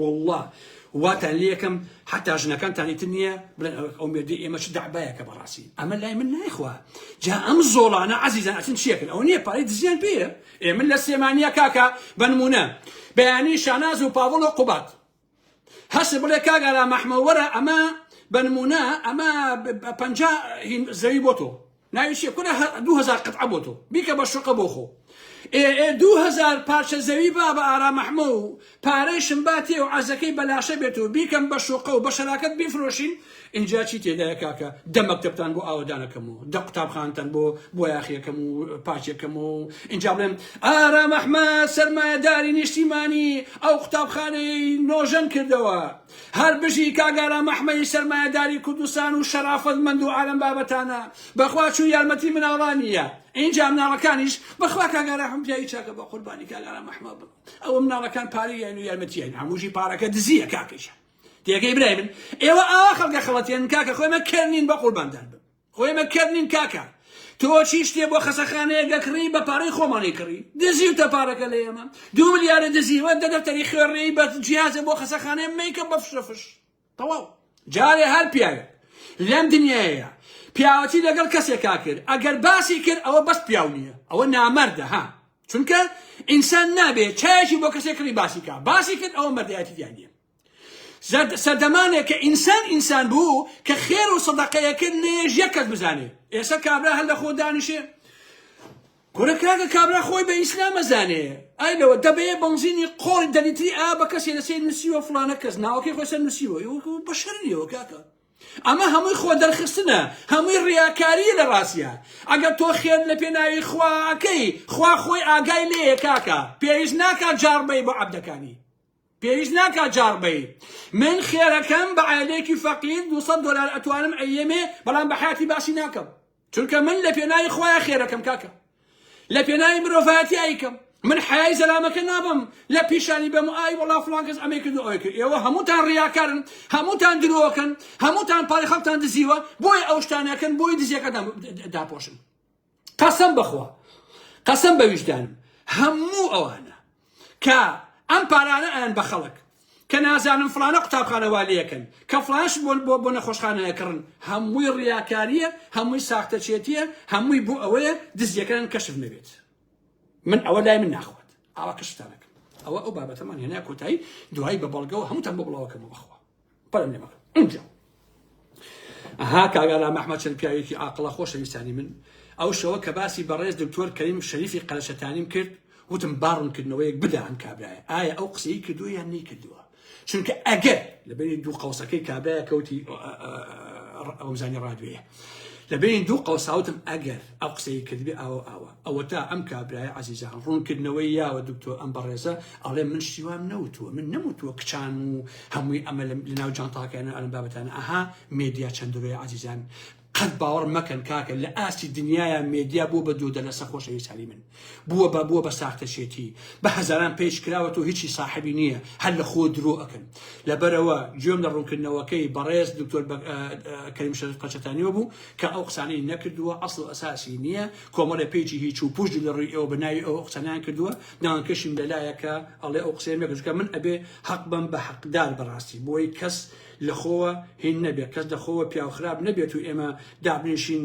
وەڵڵا واتان لێکەم حتا ژنەکانتان ئیتر نییە بڵێن ئەوەک ئەو مێردی ئێمە چ دەعبایەکە بەڕاستی ئەمە لای من نایخوا جا ئەم زۆڵانە عزیزان ئەچن چیەکەن ئەو نییە پارەی دزیان پێە ئێ من لە سێمانە کاکە بەنمونە بەیانی شاناز و پاوڵ و قوبات هەست بڵێ کاگەرا مەحمەوەرە ئەمە بەنمونە ئەمە پ زەوی بۆ تۆ ناوی چیە کورە هە دوو هەزار قەتعە بۆ تۆ بیکە بە شوقە بۆ خۆ ئێ ئێ دوو هەزار پارچە زەوی با بە ئارام ئەحمە و پارەیشم با تێ و عەزەکەی بە لاشە بێت و بیکەم بە شوقە و بە شەراکەت بیفرۆشین ئینجا چی تێدایە کاکە دە مەکتەبتان بۆ ئاوەدانەکەم و دە قوتابخانتان بۆ بۆیاخیەکەم و پارچەکەم و ئینجا بڵێم ئارام ئەحمە سەرمایەداری نیشتیمانی ئەو قوتابخانەی نۆژەن کردەوە هەر بژی کاک ئارام ئەحمەی سەرمایەداری کوردستان و شەرافەت مەند و عالەم بابتانە بەخوا چوو یارمەتی مناڵانی یە ئینجا مناڵەکانیش بەخوا کاک ئاراحم پیاوی چاکە بەقوربانی کاک ئارام ئەحمە بم ئەوە مناڵەکان پارەی یاین و یارمەتی یاین هەمووشی پارەکە دزیە کاکەیشە تێگەی برای من ئێوە ئاوا خەڵکە خەڵەتێن کاکە خۆێمە کەرنین بەقورباندان بم ئێمە کەر نین کاکە تۆ چی شتێ بۆ خەسەخانەیە گەکڕی بە پارەی خۆمانی کڕی دزیوتە پارەکە لە ئێمە دوو ملیارە دزیوە دە دەفتەری خوێڕێی بە جیازە بۆ خەسەخانەیە میکە بە فشەفش تەواو جارێ هەر پیاوێک لەم دنیاەیە پیاوەتی لەگەڵ کەسێکا کرد ئەگەر باسی کرد ئەوە بەس پیاو نییە ئەوە نامەردە ها چونکە ئینسان نابێت چایەکی بۆ کەسێک کڕی باسی کا باسی کرد ئەوە مەردایەتی دیان نیە سەردەمانێکە ئینسان ئینسان بوو کە خێر و سەدەقەیەکرد نەیەش یەک کەس بزانێ ئێستا کابرا هەر لە خۆ دانیشێ کورە کاکە کابرا خۆی بە ئیسلام ئەزانێ ئای لەوە دەبەیە بەنزینی قۆڵ دەلیتری ئا بە کەسێ لەسێ نووسیوە فلانە کەس ناوەکەی خۆی سەر نووسیوە یوکو بە شەرنیەوە کاکە ئەمە هەمووی خۆ دەرخستنە هەمووی ڕیاکاریە لە ڕاستە ئەگەر تۆ خێن لە پێناوی خواکەی خوا خۆی ئاگای لێیە کاکە پێویست ناکات جاڕبەی بۆ عەبدەکانی پێویست ناکا جاڕ بەی من خێرەکەم بە عەلێکی فەقیر دوسەد دۆلار ئەتوانم ئەیەمێ بەڵام بە حیاتی باسی ناکەم چونکە من لە پێناوی خۆیان خێرەکەم کاکە لە پێناوی مرۆڤایەتی ئەیکەم من حیای زەلامەکە نابم لە پیشانی بەم ئای وڵا فلان کەس ئەمەی کرد ئەوەی کرد ئێوە هەمووتان ڕیاکارن هەمووتان درۆکەن هەمووتان پارەی خەڵکتان دزیوە بۆیە ئەو شتانەکەن بۆی دزیەکەتان داپۆشن قەسەم بەخوا قەسەم بە ویژدانم هەموو ئەوانە کە ئەم پارانە ئەیان بە خەڵک کە نازانم فلانە قوتابخانە والەکەن کە فلانش بۆن بۆ بۆ نەخۆشخانەیەکڕن هەمووی ڕیاکاریە هەمووی ساختەچێتیە هەمووی بۆ ئەوەیە دزیەکان کەشف نەبێت من ئەوە لای من ناخوات ئاوا کەشتانەکەم ئەوە ئەو بابەتەمان هێنا کۆتایی دوایی بە بەڵگەوە هەمووتان بۆ بڵاوەکەمە بەخوا پەرم لێمەکە ئینجا ئەها کاگالا مەحمە چەند پیاوێکی ئاقلە خۆشەویستانی من ئەو شەوە کە باسی بەڕێز دکتۆر کەیم شەریفی قەرەشەتانیم کرد وتم باڕونکردنەوەیەک بدا ئەم کابراە ئایا ئەو قسەی کردو یان نەی کردووە چونکە ئەگەر لە بینی دوو قەوسەکەی کابراە کەوتی ئەوزانی ڕادوێە لە بینی دوو قەوساوتم ئەگەر ئەو قسەی کردبێ ئاوە ئاوا ئەوەتا ئەم کابرایە عزیزان ڕوونکردنەوەی یاوە دکتۆر ئەم بەڕێزە ئەڵێ من شتیوام نەوتووە من نەموتووە کچان و هەمووی ئەمە لە ناو جانتاکەیان ئەلم بابەتان ئەها مێدیا چەندروی عزیزان قەت باوەڕ مەکەن کاکە لە ئاستی دنیاە مێدیا بۆ بە دوو دەلەسە خۆشەویستانی من بووە بە بووە بە ساختەچێتی بە هەزاران پێچ کراوەت و هیچی ساحبی نییە هەر لە خۆ درۆ ئەکەن لەبەرەوە گوێم لە ڕوونکردنەوەکەی بەڕێز دکتۆر کەریم شەرف قەچەتانیەوە بوو کە ئەو قسانەی نەکردووە ئەسڵ و ئەساسی نییە کۆمەڵێ پێیجی هیچ و پوش لە ڕووی ئەوە بە ناوی ئەو قسانیان کردووە ناوانکەشیم لەلایەکە ئەڵێ ئەو قسەیە مەکردکە من ئەبێ حەق بم بە حەقدار بەڕاستی بۆی کەس لەخۆوە هین نەبێت کەس لەخۆوە پیاو خراپ نەبێت و ئێمە دابنیشین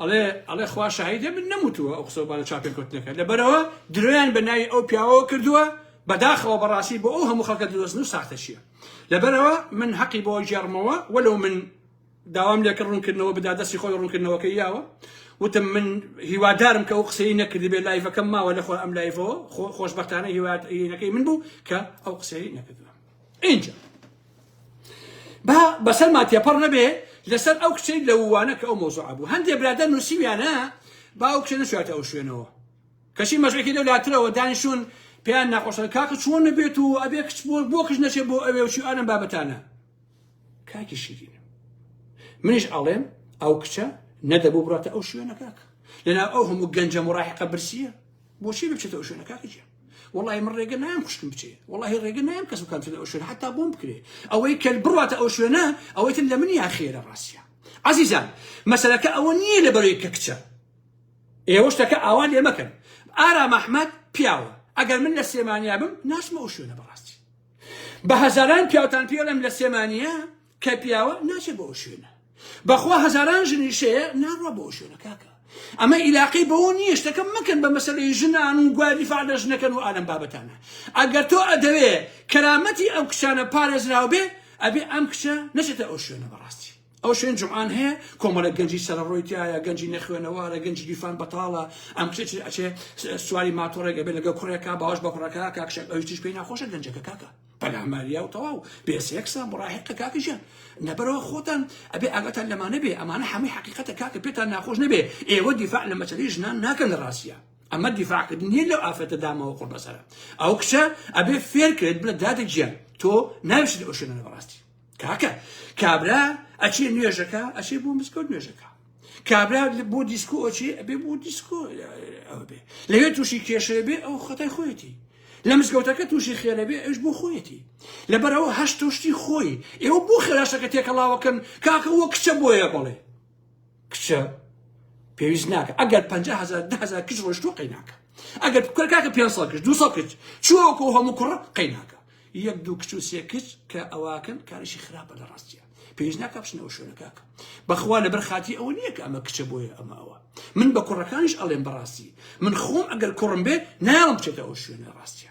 ئەڵێ ئەڵێ خوا شاهیدە من نەموتووە ئەو قسە بالە چاپێن کەوتنەکە لەبەرەوە درۆیان بە ناوی ئەو پیاوەوە کردووە بەداخەوە بەڕاستی بۆ ئەو هەموو خەڵکە درۆزن و ساختە چییە لەبەرەوە من حەقی بۆ گێڕمەوە وەلو من داوام لێکە ڕوونکردنەوە بدا دەستی خۆی ڕوونکردنەوەکە یاوە وتم من هیوادارم کە ئەو قسەی نەکردی بێ لایڤەکەم ماوە لەخۆ ئەم لایڤەوە خۆشببختانە هیوادینەکەی من بوو کە ئەو قسەی نەکردوە اینجا با بەسەرمان تێپەڕ نەبێ لەسەر ئەو کچەی لە ووانە کە ئەو مۆزوعە بوو هەندێ برادە نووسیویانە با ئەو کچە نەچواتە ئەو شوێنەوە کەچی مەژێکی لەو لاترەوە دانیشون پێیان ناخۆشە کاکە چۆن نەبێت و ئەبێ کچ بۆ بۆ کچ نەچێت بۆ ئەوێ و چیانم بابەتانە کاکی شیرین منیش ئاڵێم ئەو کچە نەدەبوو بڕاتە ئەو شوێنە کاکە لەنا ئەو هەموو گەنجە مڕاحقە برسیە بۆچی بچێتە ئەو شوێنە کاکە جیان وڵی من ڕێگە نام خوشکم بچێ وڵی ڕێگە نام کەس بکەم چێتە ئەو شوێن حتا بۆم بکرێ ئەوەی کە بڕاتە ئەو شوێنە ئەوەی تر لە من یا خێرە ڕاستە عزیزان مەسەرەکە ئەوە نییە لە بەرەی کە کچە ئێوە شتەکە ئاوا لێ مەکەن ئارا مححمد پیاوە ئەگەر من لە سێمانیا بم ناشمە ئەو شوێنە بەڕاستی بە هەزاران پیاوتان پێڵم لە سێمانە کە پیاوە ناچێت بۆ شوێنە بەخوا هەزاران ژنی شەیە ناڕوە بۆ شوێنە کاکە ئەمە ئیلاقی بەوە نییە شتەکە مەکەن بە مەسلەی ژنان و گوادی فعلە ژنەکەن و ئالم بابەتانە ئەگەر تۆ ئەدەوێ کەرامەتی ئەو کچانە پارێزراو بێ ئەبێ ئەم کچە نەچێتە ئەو شوێنە بەڕاستی ئەو شوێن جوان هەیە کۆمەلە گەنجی سەرڕۆی تایە گەنجی نەخوێنەوارە گەنجی گیرفان بەتاڵە ئەم کچێت ئەچێ سواری ماتۆڕێک ئەبێ لەگە کوڕێکا باش بە کوڕەکە کاکشێک ئەویش پێی ناخۆشە گەنجەکە کاکە پەلاماریاو تەواو بێ سێکسە مڕاهقە کاکە ژیان نەبەرەوە خۆتان ئەبێ ئاگاتان لەمانە بێ ئەمانە هەمووی حقیقەتە کاکە پێتان ناخۆش نەبێ ئێوە دیفاع لە مەچەری ژنان ناکەن لە ڕاستە ئەمە دیفاعکردن نیە لەو ئافرەتە دامەوە قڕ بەسەرە ئەو کچە ئەبێ فێرکرێت بلە دادە گیان تۆ ناویشت لە ئۆشێنە بەڕاستی کاکە کابرا ئەچێ نوێژەکە ئەچێ بۆ مزگەوت نوێژەکە کابرا بۆ دیسکۆ ئەچێ ئەبێ بۆ دیسکۆ ئەوێ لەوێ تووشی کێشێ بێ ئەو خەتای خۆیەتی لە مزگەوتەکە تووشی خێرەبێ ئەوش بۆ خۆیەتی لەبەرەوە هەشت تۆشتی خۆی ئێوە بۆ خێراشەکە تێکەڵاوەکەن کاکە وە کچە بۆیە بڵێ کچە پێویست ناکە ئەگەر 500هزار دههزار کچ ڕۆشتوە قەیناکە ئەگەر کاکە پێ کچ دو کچ چوەکە هەموو کوڕ قەیناکە یەک دوو کچ و سێ کچ کە ئەواکەن کارشی خراپە لە ڕاستیە پێش ناکە بچنەوە شوێنە کاکە بەخوا لەبەر خاتی ئەوە نییە کە ئەمە کچە بۆیە ئەمە ئەوە من بە کوڕەکانش ئەڵێم بەڕاستی من خۆم ئەگەر کوڕم بێ ناڵم بچێتە ئەو شوێنە ڕاستیە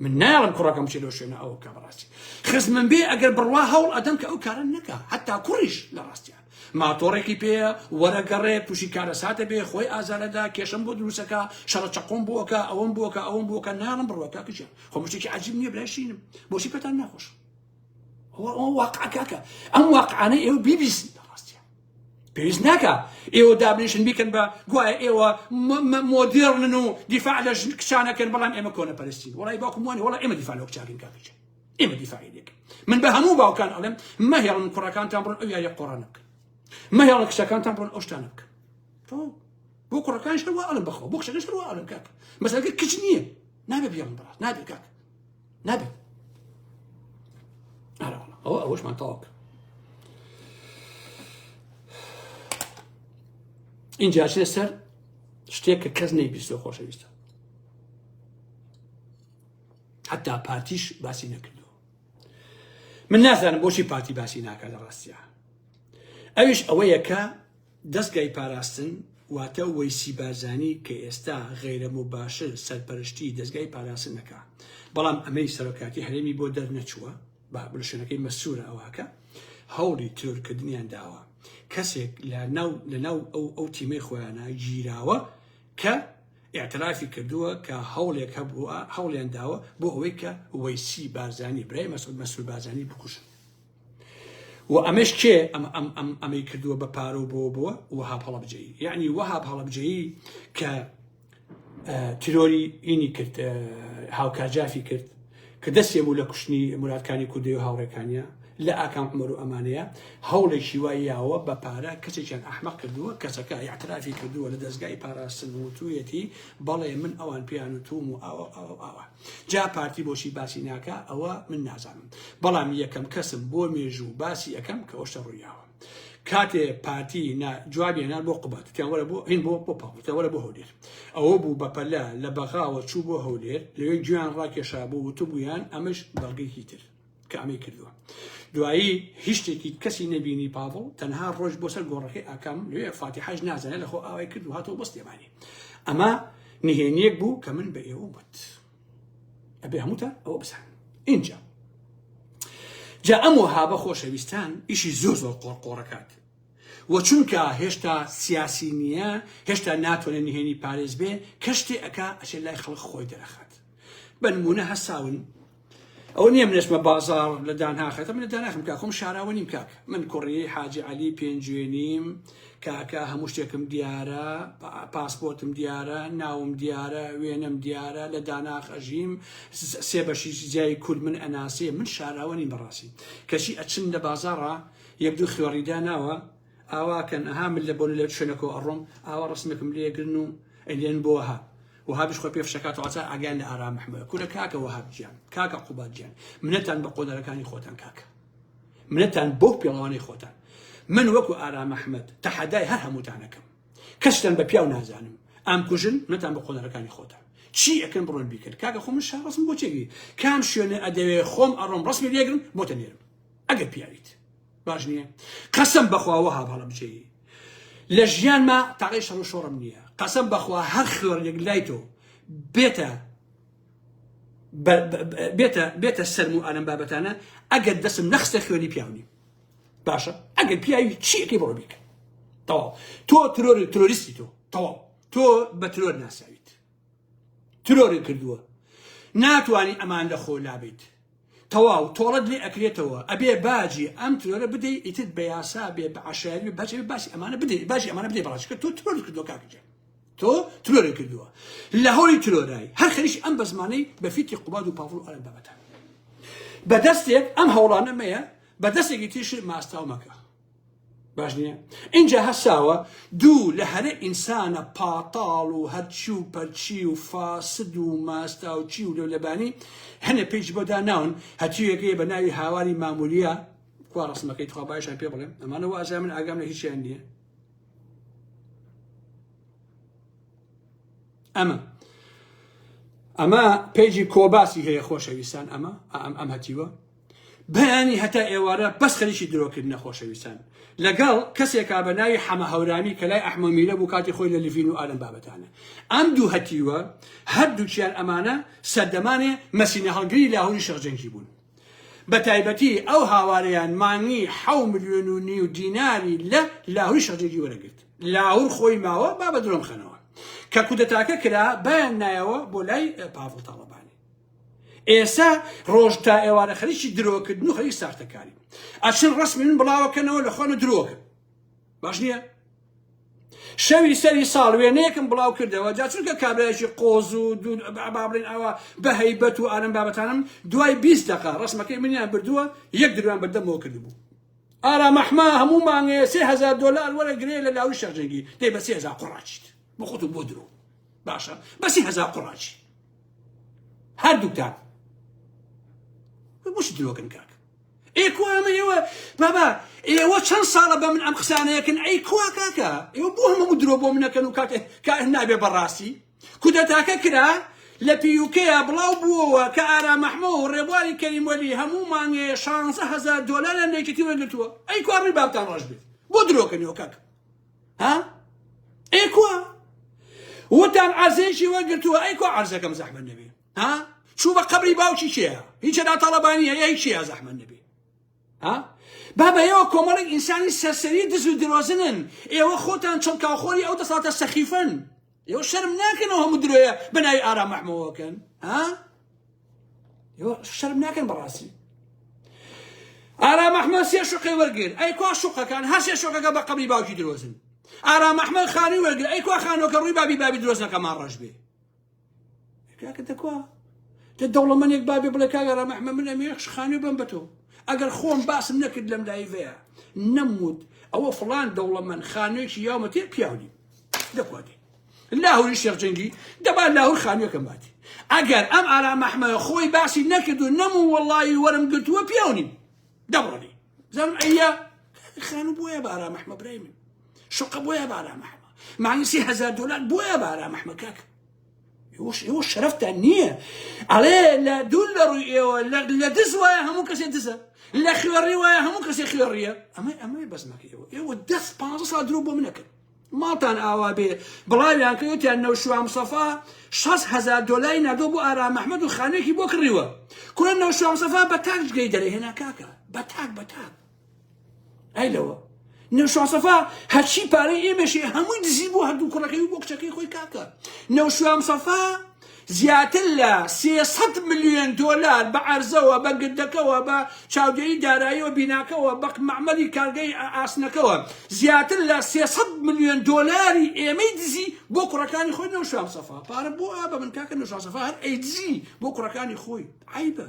من ناڵم کوڕەکەم بچێت لەو شوێنە ئەوە کە بەڕاستی خزمم بێ ئەگەر بڕوا هەوڵ ئەدەم کە ئەو کارە نەکە حتا کوڕیش لە ڕاستیان ماتۆڕێکی پێیە وەرە گەڕێ توشی کارەساتە بێ خۆی ئازارەدا کێشەم بۆ دروسەکە شەڕە چەقۆم بۆکە ئەوەم بۆکە ئەوەم بۆکە ناڵم بڕوە کاکەجیان خۆ مشتێکی عجیب نییە برای شینم بۆچی پێتان ناخۆش واقع کاکە ئەم واقعانە ئێوە بیبیست ڕاستیان پێویست ناکە ئێوە دابنیشن بیکەن بە گوایە ئێوە مۆدێڕن و دیفاع لە کچانەکەن بەڵام ئێمە کۆنە پەرستین وڵی باکومانی وڵا ئێمە دیفاع لە کچاکەن کاکەجیان ئێمە دیفاعی لێکن من بە هەموو باوکان ئەڵێم مەهێڵن کوڕەکانتان بڕن ئەو یاریە قۆڕانە بکەن مەهێڵە کچەکانتان بڕن ئەو شتانە بکەن بۆ کوڕەکان شەوە ئەڵم بخۆ بۆ کچەکە شەوە ئەڵم کاک مەسەلەکە کچ نییە نابێ بێڵم بڕات نابێت کاک نابێت ئەوە ئەوەشمان تاوەکە اینجا چێ سەر شتێک کە کەس نەیبیستۆ خۆشەویستە حتا پارتیش باسی نەکردووە من نازانم بۆچی پارتی باسی ناکە لە ڕاستە ئەویش ئەوەیە کە دەستگای پاراستن واتە وەیسی بارزانی کە ئێستا غیرە مباشر سەرپەرشتی دەستگای پاراستن نەکە بەڵام ئەمەی سەرۆکاتی هەرێمی بۆ دەرنەچووە بە بلشوێنەکەی مەسوورە ئەوهکە هەوڵی ترورکردنیان داوە کەسێک لە ناو لە ناو ئەو ئەو تیمەی خۆیانە گیراوە کە ئیعترافی کردووە کە هەوڵێک هەبووە هەوڵیان داوە بۆ ئەوەی کە وەیسی بارزانی برای مەسعود مەسرور بارزانی بکوژن و ئەمەش کێ ئەم ئەم ئەم ئەمەی کردووە بە پارە و بۆ بۆ وەها هەڵبجەی یعنی وەها هەڵبجەی کە تیرۆری ئینی کرد هاوکارجافی کرد کە دەستێ بوو لە کوشتنی موراد کانی کوردەی و هاوڕێکانیا لە ئاکام عومەر و ئەمانەیا هەوڵێکی وای یاوە بە پارە کەسێکیان ئەحمەق کردووە کەسەکە ئیعترافی کردووە لە دەزگای پاراستن و وتوویەتی بەڵێ من ئەوان پێیان وتووم و ئاوا و ئاوا و ئاوا جا پارتی بۆچی باسی ناکا ئەوە من نازانم بەڵام یەکەم کەسم بۆ مێژوو باسی ئەکەم کە ئەوشتە ڕووی یاوە. کاتێ پارتی نا جوابی نا بۆ قوباد وتیان وەرە بۆ هین بۆ بۆ پاڵ وتیان وەرە بۆ هەولێر ئەوە بوو بە پەلە لە بەغاوە چوو بۆ هەولێر لەوێ گوێیان ڕاکێشا بوو وتبوویان ئەمەش بەڵگەیەکی تر کە ئەمەی کردووە دوایی هیچ شتێکی کەسی نەبینی پاڤڵ تەنها ڕۆژ بۆ سەر گۆڕەکەی ئاکام لێ فاتیحاش نازانێت لەخۆ ئاوای کرد و هاتەوە بەستێمانی ئەمە نهێنیەک بوو کە من بە ئێوە وت. ئەبێ هەمووتان ئەوە بزان اینجا جا ئەم وەهابە خۆشەویستان ئیشی زۆر زۆر قۆرقۆڕەکات وە چونکە هێشتا سیاسی نییە هێشتا ناتوانێ نهێنی پارێز بێ کەشتێ ئەک ئەشێ لای خەڵک خۆی دەرەخات بەنمونە هەساون ئەو نییە منێشمە بازار لە دانهاخەتە من لە داناخم کا خۆم شاراوە نیم کاک من کوڕی حاجی علی پێنجوێنیم کاکە هەموو شتێکم دیارە پاسپۆرتم دیارە ناوم دیارە وێنەم دیارە لە داناخ ئەژیم سێ بەشی جیای کورد من ئەناسێ من شاراوەنی بەڕاستی کەچی ئەچن لە بازاڕە یەک دوو خوێڕیدا ناوە ئاواکەن ئەها من لە بۆن لە شوێنەکە ئەڕۆم ئاوا ڕسمێکم لێگرن و ئەلێن بۆها وهابش خۆ پێفشەکات واتە ئاگیان لە ئارام محمد کورە کاکە وهاب گیان کاکە قوباد گیان منەتان بە قۆنەرەکانی خۆتان کاکە منەتان بەو پێڵەوانەی خۆتان من وەکو ئارام ئەحمەد تەحەدای هەر هەمووتان ئەکەم کەستان بە پیاو نازانم ئام کوژن نەتان بە قۆنەرەکانی خۆتان چی ئەکەن بڕۆن بیکرد کاکە خۆ من شارڕسم بۆ چێگی کام شوێنە ئەدەوێ خۆم ئەڕۆم ڕسمی لێگرم بۆتە نێرم ئەگەر پیاویت باش نییە قەسم بەخواوە هاب هەڵە بجێی لە ژیانما تاقی شەڕ و شۆڕم نییە قەسم بەخوا هەر خوێڕێک لای تۆ بێتە بێتە بێتە سەرم و ئەلم بابەتانە ئەگەر دەسم نەخستە خوێنی پیاونی باشە ئەگەر پیاوی چیەکەی بڕۆ بیکە تەواو تۆ ترۆر ترۆریستی تۆ تەواو تۆ بە ترۆر ناساویت ترۆری کردووە ناتوانانی ئەمان لە خۆ لابیت تەواو تۆڵەت لێ ئەکرێتەوە ئەبێ باجی ئەم ترۆرە بدەی ئیتر بە یاسا بێ بە عەشایەری بێ باجی باسی ئەمانە بدەی باجی ئەمانە بدەی بەڕاست کە تۆ ترۆرت کردووە کاک گیان تۆ ترۆرت کردووە لە هەوڵی ترۆرای هەر خەریکی ئەم بە زمانەی بە فیتی قوباد و پاڤڵ و ئەرەن بابەتە بە دەستێک ئەم هەوڵانە مەیە بە دەستێکی تیشی ماستاو مەکە باش نییە ئینجا هەساوە دوو لە هەرە ئینسانە پاتاڵ و هەرچی و پەرچی و فاسد و ماستاوچی و لەولەبانی هەنە پێیش بۆدا ناون هەتیوێکەیە بە ناوی هاواری ماموریە کوا ڕسمەکەی تخوا باشان پێ بڵێم ئەمانە وازای من ئاگام لە هیچیان نییە ئەمە ئەمە پێیجی کۆباسی هەیە خۆشەویستان ئەمە ئەم ئەم هەتیوە بەیانی هەتا ئێوارە بەس خەریکی درۆکردنە خۆشەویستان لەگەڵ کەسێکا بە ناوی حەمە هەورامی کە لای ئەحمە میرە بوو کاتی خۆی لە لڤین و ئالەم بابەتانە ئەم دوو هەتیوە هەردووکیان ئەمانە سەردەمانێ مەسینە هەڵگری لاهوری شەخجەنکی بوون بە تایبەتی ئەو هاوارەیان مانگی حەو ملیۆن و نیو دیناری لە لاهوری شەخجەنکی وەرەگرت لاهور خۆی ماوە با بە درۆم خەنەوە کە کودەتاکە کرا بایان نایەوە بۆ لای پاڤڵ تاڵەبانی ئێسە ڕۆژ تا ئێوارە خەریکی درۆکردن و خەریک ساختەکاری ئەچن ڕسمی من بڵاوەکەنەوە لە خۆنە درۆکە باش نییە شەوی سەری ساڵ وێنەیەکم بڵاو کردەوە جا چونکە کابراایکی قۆز و بابلین ئەوە بە هەیبەت و ئارم بابەتانم دوای 20 دقا ڕسمەکەی منیان بردووە یەک دروان بەردەمەوە کردبوو ئارا مەحما هەموو مانگەیە سێ هزار دلار وەرە گرێ لە لاوی شەرجەنگی دەی بە سێ هزار قڕاچیت بۆ خۆت و بۆ درۆ باشە بەسی هزار قڕاچی هەردووکتان بۆشی درۆکن کاک ئێ کو ئەمە ئێوە بابا ئێوە چەند ساڵە بە من ئەم قسانەیەکن ئەی کوا کاکە ئێوە بۆ هەمە درۆ بۆ منەکەن و کاکە کا نابێ بەڕاستی کودەتاکە کرا لە پیوکەیە بڵاو بووەوە کە ئارا مەحمە و ڕێبواری کەریموەلی هەموو مانگێ 16هزار دۆلاریان لەکەتی وەرگتووە ئەی کوڕی بابتان ڕۆژ بێت بۆ درۆکەنیەوە کاکە ها ئەی کوا وتان عەرزێکی وەرگرتووە ئەی کوا عەرزەکەم زەحمەت نەبێ ها چوو بە قبری باوکی کێە هیچە ناتاڵەبانی هەیە هیچ چیە زەحمەت نەبێ ها بابا ئێوە کۆمەڵێک ئینسانی سەرسەری دز و درۆزنن ئێوە خۆتان چڵکاوخۆری ئەو دەساتە سەخیفن ئێوە شەرم ناکەن ئەو هەموو درۆیە بە ناوی ئارام مەحمەوەکەن ها ئێوە شەرم ناکەن بەڕاستی ئارام ئەحمە سێ شوقی وەرگر ئەی کوا شوقەکان هەر سێ شوقەکە بە قەبری باوکی درۆزن ئارام ئەحمە خانووی وەرگر ئەی کوا خانۆکە ڕووی بابی بابی درۆزنەکە ماڕەش بێ کاکە دەکوا تە دەوڵەمەنێک بابێ بڵێ کاگە ئارام ئەحمە من ئەمێ خانووی بم بە تۆ ئەگەر خۆم باسم نەکرد لەم لایڤەیە نەموت ئەوە فڵان دەوڵەمەن خانوێکی یاومەتێ پیاونی دەکوادێ لاهوری شێخ جەنگی دەبا لاهور خانووەکەم باتی ئەگەر ئەم ئارا مەحمە خۆی باسی نەکرد و نەم و وەڵی وەرم گرتووە پیاونی دەڕۆنی زم ئەە خانوو بۆیە بارا مەحمە برای من شقە بۆیە بارا مەحمە مانگسی هزار دلار بۆیە بارا مەحمە کاکە ئێوە شەرەفتان نییە ئەڵێ لە دوور لە ڕووی ئێوە لە دز وایە هەموو کەسێ دزە لە خوێڕی وایە هەموو کەسێ خوێڕیە ئەمە ئەمەی بەزمەکە ئێوە ئێوە دەست پ سا درۆ بۆ منەکرد ماڵتان ئاوا بێ بڵاویان کەوتیان نەوشوام سەفا 6هزار دلاری نادۆ بۆ ئارا مححمد و خانوێکی بۆ کڕیوە کورە نەوشام سەفا بە تاکجگەی دەرەهێنا کاکە بە تاک بە تاک ئەی لەوە نەوشاسەفا هەرچی پارەی ئێمەشێ هەمووی دزی بۆ هەردوو کوڕەکەی و بۆ کچەکەی خۆی کاکە نەوشام سەفا زیاتر لە 300 میلیۆن دلار بە ئەرزەوە بە گردەکەوە بە چاودێری داراییەوە بیناکەوە بە معمەلی کارگەی ئاسنەکەوە زیاتر لە 300 میلیۆن دلاری ئێمەی دزی بۆ کوڕەکانی خۆی نەوشام سەفا پارە بۆ ئا بە من کاکە نەوشام سەفا هەر ئەیدزی بۆ کوڕەکانی خۆی عیبە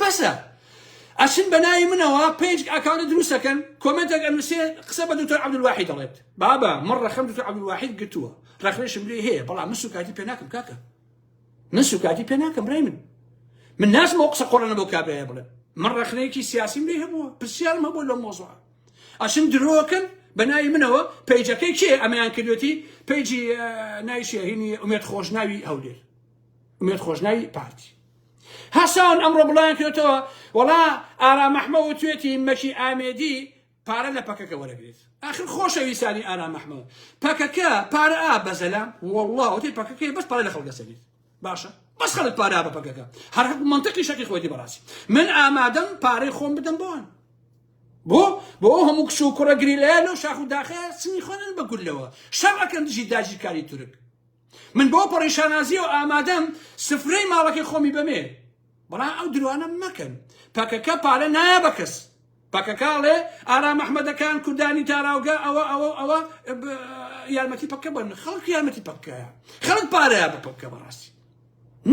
بەسە ئەچن بەناوی منەوە پێج ئەکاونە دروستەکەن کۆمنتێک ئەنووسێ قسە بە دکتۆر عبدواحی دەڵێت بابا من ڕەخم دکتۆر عبدواحید گرتووە ڕەخنێشم لێ هەیە بەڵام من سوکاتی پێ ناکەم کاکە من سوکاتی پێ ناکەم برای من من نازمەوە قسە قۆڕەنە بۆ کابرایە بڵێ من ڕەخنەیەکی سیاسیم لێ هەبووە پرسیارم هەبوو لەم مۆزوع ئەچن درۆکەن بە ناوی منەوە پەیجەکەی کێ ئەمەیان کردوێتی پەیجی نایشێهینی ئومێت خۆشناوی هەولێر ئومێت خۆشناوی پارتی هەسان ئەمڕۆ بڵاویان کردۆتەوە وەڵا ئارام ئەحمە وتوێتی مەکی ئامێدی پارە لە پەکەکە وەرەگرێت ئاخر خۆشەویستانی ئارام ئەحمە پەکەکە پارە ئا بەزەلا وەڵا وتی پەکەکەی بەس پارە لە خەڵک دەسەنێت باشە بەس خەڵک پارە بە پەکەکە هەر هەق منطقی شەقی خۆتی بەڕاستی من ئامادەم پارەی خۆم بدەم بۆن بۆ بۆ هەموو کچ و کوڕە گریلەیە لەو شاخ و داخەیە سنی خوێنن بە گولەوە شەڕ ئەکەن دژی داگیرکاری تورک من بەو پەڕی شانازیەوە ئامادەم سفرەی ماڵەکەی خۆمی بەمێ بەڵام ئەو درۆانە مەکەن پەکەکە پارە نایە بە کەس پەکەکاڵێ ئارا مححمەدەکان کوردانی تاراوگە ئەوە ئەوە ئەوە یارمەتی پەکە بن خەڵک یارمەتی پەکەیە خەڵک پارەیە بە پەکە بەڕاستی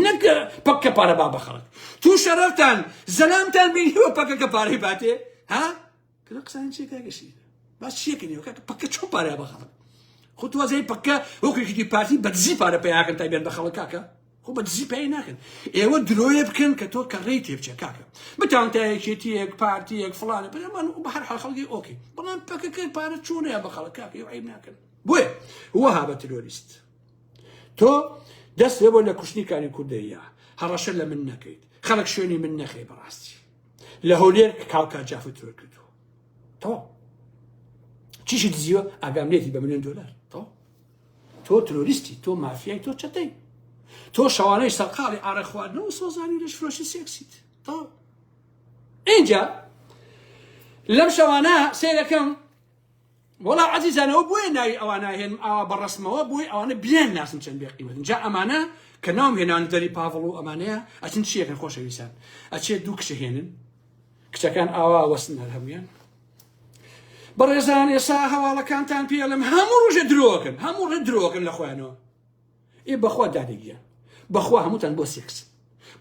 نەکە پەکە پارە با بە خەڵک تو شەرەفتان زەلامتان بینیوە پەکەکە پارەی باتێ ها کلە قسانی چیە کاکە شیر باس چیەکەنی کاکە پەکە چۆن پارە بە خەڵک خۆ تو وازای پەکە وەکو یەکێتی پارتی بە دزی پارە پیاکەن تا بێن بە خەڵک کاکە خۆ بە دزی پێی ناکەن ئێوە درۆیە بکەن کە تۆ کە ڕێی تێبچە کاکە بتان تا یەکێتیەک پارتیەک فلانە بەمان و بە هەر حال خەڵکی ئۆکی بەڵام پەکەکە پارە چۆنەیە بە خەڵک کاکە عیب ناکەن بۆیە وەها بە ترۆریست تۆ دەست لێ بۆ لە کوشتنی کاری کوردەیە هەڕەشە لە من نەکەیت خەڵک شوێنی من نەخەی بەڕاستی لە هەولێر کاڵکا جافت ترۆر کردووە تەواو چیشی دزیوە ئاگام لێتی بە ملیۆن دلار تەواو تۆ ترۆریستی تۆ مافیای تۆ چەتەی تۆ شەوانەی سەرقاڵی ئارە خواردنەوە سۆزانی لەش فرۆشی سێکسیت تەواو اینجا لەم شەوانە سێرەکەم وەڵا عەزیزان ئەوە بۆیە ناوی ئەوانە هێنم ئاوا بە ڕسمەوە بۆی ئەوانە بیان ناسم چەند بێ قیمەتن جا ئەمانە کە ناوم هێنان دەری پاڤڵ و ئەمانەیە ئەچن چیەکەن خۆشەویستان ئەچێت دوو کچە هێنن کچەکان ئاوا وەستن هەر هەمویان بەڕێزان ئێسا هەواڵەکانتان پێڵم هەموو ڕژە درۆکن هەموو ڕێ درۆکن لە خۆیانەوە ئێ بەخوا دادە گیان بەخوا هەمووتان بۆ سێکس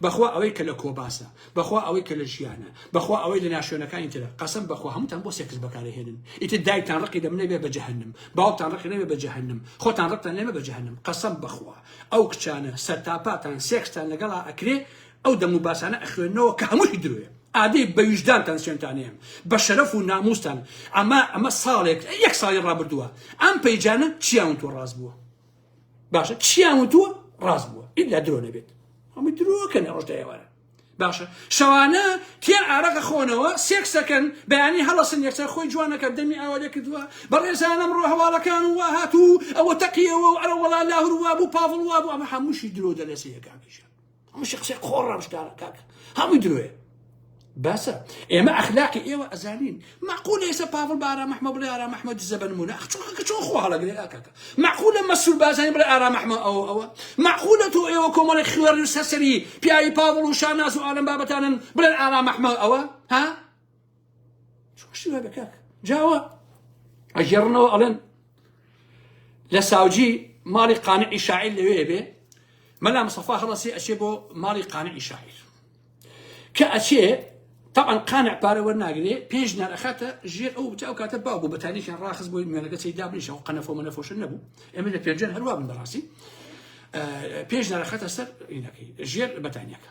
بەخوا ئەوەی کە لە کۆباسە بەخوا ئەوەی کە لە ژیانە بەخوا ئەوەی لە ناشوێنەکانی ترە قەسم بەخوا هەمووتان بۆ سێکس بەکارهێنن ئیتر دایکتان ڕقی دەم نەبێ بە جەهنم باوکتان ڕقی نەبێ بە جەهنم خۆتان ڕقتان لێمە بە جەهنم قەسم بەخوا ئەو کچانە سەرتاپاتان سێکستان لەگەڵا ئەکرێ ئەو دەم و باسانە ئەخوێنەوە کە هەمووی درۆێ ئادەی بەویژدانتان سوێنتانەیەم بە شەرەف و ناموستان ئەمە ئەمە ساڵێک یەک ساڵی ڕابردووە ئەم پەیجانە چیان تۆ ڕاست بووە باشە چیان وتووە ڕاست بووە ئیلا درۆ نەبێت هەموو درۆکەن ئەوش دەێوارە باشە شەوانە تیا ئارەقە خۆنەوە سێکسەکەن بەیانی هەڵسن یەکسەر خۆی جوانەکە دەمی ئاوادە کردووە بەڕێزانم ڕۆ هەواڵەکان و وا هاتوو ئەوە تەقیەوە و ئەرە وڵا لاهور وابوو پاڵ وابوو ئەمە هەمووشی درۆ دەلێسەکانیشە هەمووشی قسەی قۆڕ ڕەمشکارە کاکە هەمووی درۆیە باسە ئێمە ئەخلاقی ئێوە ئەزانین مەقول ئێستا پاڤڵ بە ئارام ئەحمە بڵێ ئارام ئەحمە دزە بە نمونە ئەخ چۆن کە چۆن خۆ هەڵەگرێ کاکە مەقولە مەسول بازانی بڵێ ئارام ئەحمە ئەوە ئەوە مەقولە تۆ ئێوە کۆمەڵی خوێڕ و سەرسەری پیاوی پاڤڵ و شاناز و ئالەم بابەتانن بڵێن ئارام ئەحمە ئەوە ها شتی وابێ کاک جاوە ئەگێڕنەوە ئەڵێن لە ساوجی ماڵی قانعی شاعیر لەوێ بێ مەلا مصطفى هەڵەسی ئەچێ بۆ ماڵی قانعی شاعیر کە ئەچێ طبعا قانع پارە وەرناگرێ پێش نەرەخاتە ژێر ئەو تا ئەو کاتە با بوو بە تاریخیان ڕاخز بۆی مێنەکە چی دابنیشە و قەنەفۆ منەفۆشن نەبوو ئەمە لە پێنجەن هەروە بن بەڕاستی پێش نەرەخاتە سەر ینەکەی ژێر بەتانیەکە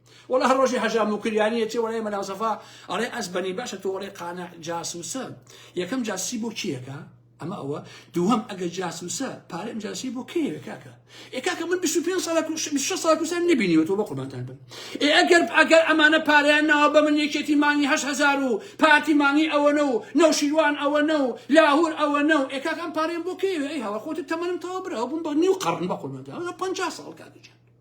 وەڵا هەر ڕۆژی حەژا موکریانی ئەچێ وەلای مەلا سەفا ئەڵێ ئەزبەنی باشە تۆ وەڵێ قانع جاسوسە یەکەم جاسوسی بۆ کیەکە ئەمە ئەوە دووەم ئەگە جاسوسە پارەم جاسی بۆ کێوێ کاکە ئێ کاکە من 25 ساڵە کوش 26 ساڵە کوسان نبینیوە تۆ بە قوربانتان بن ئێ ئەگەر ئەگەر ئەمانە پارەیان ناوە بە من یەکێتی مانگی 8000 و پارتی مانگی ئەوەنە و نەوشیروان ئەوەنە و لاهور ئەوەنە و ئێ کاکە ئەم پارەیان بۆ کێوێ ئەی هەوە خۆت تەمەنم تەوا برا بووم بە نیو قەڕن بە قوربانتان 50 ساڵ کاکە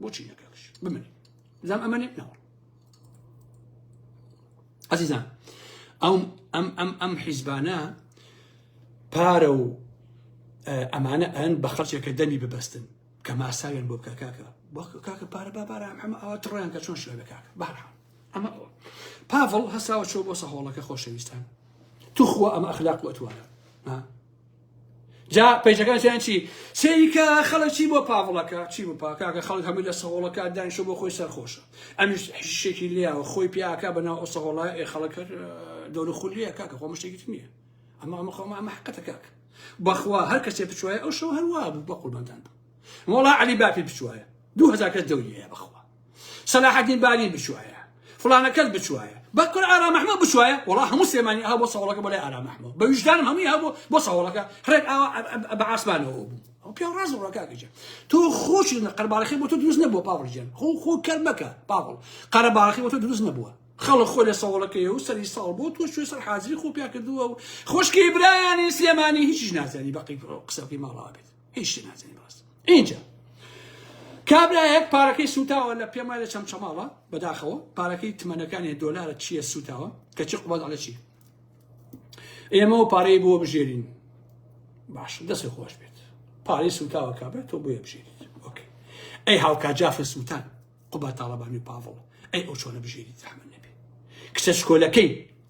بۆچی نەکەکش بمێنی زام ئەمەێت نەوە ئەزیزان ئەو ئەم ئەم ئەم حیزبانە پارە و ئەمانە ئەن بە خەڵچێکە دەمی ببەستن کە ماساوێن بۆ بکە کاکە کاکە پارە بابارە ئەمە ئەوە تڕیان کە چۆن شوێنە کاکە بارحان ئەمە پاڤڵ هەساوە چۆ بۆ سەهۆڵەکە خۆشەویستان توخوا ئەمە ئەخلاق وتوانە جا پەیجەکان چیان چی سەیری کە خەڵک چی بۆ پاڤڵەکە چی بۆ پاکاکە خەڵک هەمووی لە سەهۆڵەکە دانیشە بۆ خۆی سەرخۆشە ئەمیش حشتێکی لیاوە خۆی پیاکە بەناو ئەو سەهۆڵە ئێ خەڵک دەور خولیە کاکە خۆ مشتێکی نییە ئەمە ئەمە خۆمە ئەمە حقەتە کاک بەخوا هەر کەسێ بچوایە ئەو شەو هەروە بوو بە قوربانتان بوو مۆڵا علی باپی بچوایە دوو هەزار کەس دەوریە بەخوا سەلاحەدین بارین بچوایە فلانە کەس بچوایە بەکر ئارام محمود بچوایە وڵا هەموو سێمانی ئا بۆ سەوڵەکە بۆ لای ئارام محمود بە ویژدانم هەمووی هەبوو بۆ سەوڵەکە ڕێک ئاوا بە ئاسمانەوە بوو ئەو پێ ڕاز ڕکاکەجە تۆ خۆش قەرباڵەکەی بۆ تۆ دروست نەبووە پاوڵجان خۆ خۆ کەر مەکە پاوڵ قەرەباڵەکەی بۆ تۆ دروست نەبووە خەڵک خۆ لە سەوڵەکەی و سەری ساڵ بۆ تۆ شوێ سەر حازری خۆ پیا کردووە و خۆشکی برایانی سلێمانی هیچیش نازانی بەقی قسەکەی ماڵاوە بێت هیچ شتێ نازانی بەڕاست ئینجا کابرایەک پارەکەی سوتاوە لە پێم وایە لە چەمچەماڵە بەداخەوە پارەکەی تمەنەکانی دۆلارە چییە سوتاوە کەچی قوباد عەلە چی ئێمە و پارەی بۆ بژێرین باش دەستی خۆش بێت پارەی سوتاوە کابرا تۆ بۆیە بژێریت ئۆکەی ئەی هاوکا جافە سووتان قوبا تاڵەبانی پاڤڵ ئەی ئەو چۆنە بژێری زەحمە نەبێ کچە شکۆلەکەی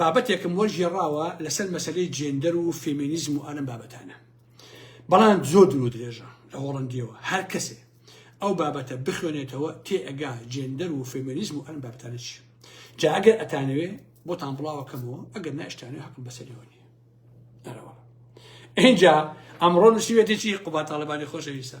بابەتێکم وەرگێڕاوە لەسەر مەسەلەی جێندەر و فێمینیزم و ئەلم بابەتانە بەڵام زۆر درو درێژە لە هۆڵندیەوە هەر کەسێ ئەو بابەتە بخوێنێتەوە تێ ئەگا جێندەر و فێمینیزم و ئەلم بابتانە چی جا ئەگەر ئەتانەوێ بۆتان بڵاوەکەمەوە ئەگەر ناشتانێ حکم بەسەریەوە نیە ئەرەوە اینجا ئەمڕۆ نووسیوێتێکی قوباتاڵبانی خۆشەویستە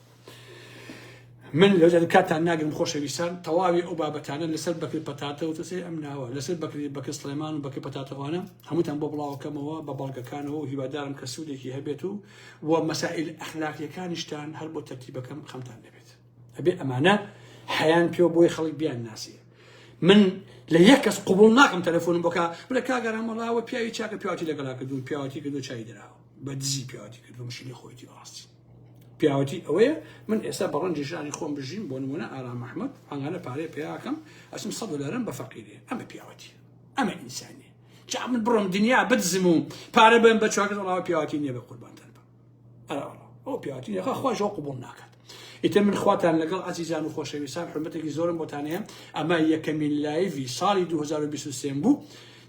من لەجد کاتان ناگرم خۆشەویستان تەواوی ئەو بابەتانە لەسەر بەکری پەتاتە و تەسەی ئەم ناوە لەسەر بەکری بەکە سلێمان و بەکە پەتاتەوانە هەمووتان بۆ بڵاوکەمەوە بە بەڵگەکانەوە و هیوادارم کە سوودێکی هەبێت و و مەسائل ئەخلاقیەکانیشتان هەر بۆ تەرتیبەکەم خەمتان دەبێت ئەبێ ئەمانە حیان پێ بۆی خەڵک بیان ناسی من لە یەک کەس قوبڵ ناکەم تەلەفۆنم بۆکە بلە کاگەرامەڵاوە پیاوی چاکە پیاوی لەگەڵا کردو پیاوی کردو چای دراوە بە دزی پیاوی کردو مشینی خۆیتی ڕاستی پیاوەتی ئەوەیە من ئێستا بە ڕەنجی ژانی خۆم بژیم بۆ نمونە ئارام ئەحمەد ئەنگانە پارەی پیاکەم ئەسم سەد دلارم بە فەقیری ئەمە پیاوەتی ئەمە ئینسانی جا من بڕۆم دنیا بدزم و پارە بم بە چواکە ڕاوە پیاوەتی نییە بە قوربانتان بم ئەراوە ئەو پیاوەتی نیە خوا ژۆ قوبڵ ناکات ئیتر من خواتان لەگەڵ ئازیزان و خۆشەویستان حرمەتێکی زۆرم بۆتانەیە ئەمە یەکەمین لایڤی ساڵی 2023 بوو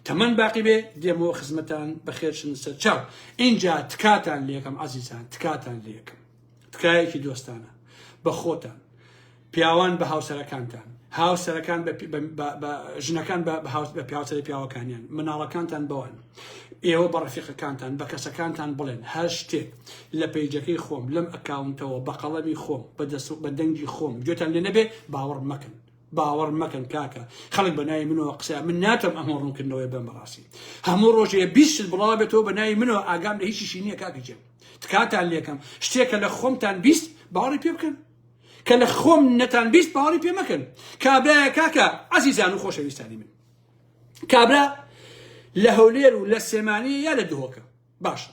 تەمەن باقی بێ دێمەوە خزمەتان بەخێرشن سەر چاو ئینجا تکاتان لەکەم عزیزان تکاتان لەکەم تکایەکی دۆستانە بە خۆتان پیاوان بە هاوسەرەکانتان هاوسەرەکان ژنەکان بە پیاوسەری پیاوەکانیان مناڵەکانتان بەوان ئێوە بە ڕفیقەکانتان بە کەسەکانتان بڵێن هەر شتێک لە پیجەکەی خۆم لەم ئەکاونتەوە بە قەڵەمی خۆم بە دەنگی خۆم گوێتان لێ نەبێ باوەڕ مەکەن باوەڕ مەکەن کاکە خەڵک بە ناوی منەوە قسە من ناتم ئەمە ڕوونکردنەوەی بەم بەڕاستی هەموو ڕۆژێ بیست شت بڵاو بێتەوە بە ناوی منەوە ئاگام لە هیچیشی نییە کاکی جێم تکاتان لێکەم شتێکە لە خۆمتان بیست باوەڕی پێ بکەن کە لە خۆم نەتان بیست باوەڕی پێ مەکەن کابرایە کاکە عەزیزان و خۆشەویستانی من کابرا لە هەولێر و لە سێمانی یا لە دهۆکە باشە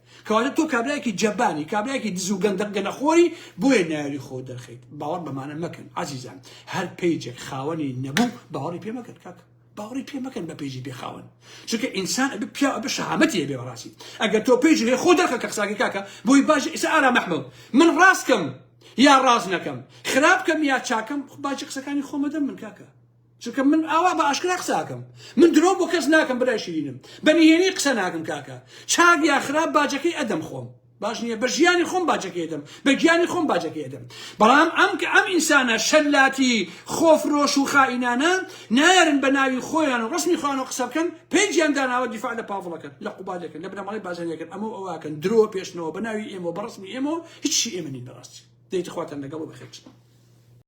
کەواتە تۆ کابرایەکی جەبانی کابرایەکی دز و گەندەق گەنەخۆری بۆیە نایەوی خۆ دەرخەیت باوەڕ بەمانە مەکەن عزیزان هەر پەیجێک خاوەنی نەبوو باوەڕی پێ مەکەن کاکە باوەڕی پێ مەکەن بە پێیجی بێخاون چونکە ئینسان ئەبێ پیا ئەبێ شەهامەتی هەبێ بەڕاستی ئەگەر تۆ پێیج هەیە خۆ دەرخە کە قساکەی کاکە بۆی باش ئیسا ئارام ئەحمەد من ڕاست کەم یا ڕاست نەکەم خراپ کەم یا چاکەم باجی قسەکانی خۆمە دەم من کاکە چونکە من ئاوا بە ئاشکرا قسە ئەکەم من درۆ بۆ کەس ناکەم برای شیرینم بە نهێنی قسە ناکەم کاکە چاک یا خراپ باجەکەی ئەدەم خۆم باش نییە بە ژیانی خۆم باجەکەی ئەدەم بە گیانی خۆم باجەکەی ئەدەم بەڵام ئەم کە ئەم ئینسانە شەلاتی خۆفرۆش و خائینانە نایەرن بە ناوی خۆیان و ڕسمی خۆیان و قسە بکەن پێجیان داناوە دیفاع لە پاڤڵەکەن لە قوبادەکەن لە بنەماڵەی بازنیەکەن ئەمە و ئەوەکەن درۆ پێشنەوە بە ناوی ئێمە بە ڕسمی ئێمە هیچی ئێمە نین بەڕاستی دەیتخواتان لەگەڵ بەخێرچن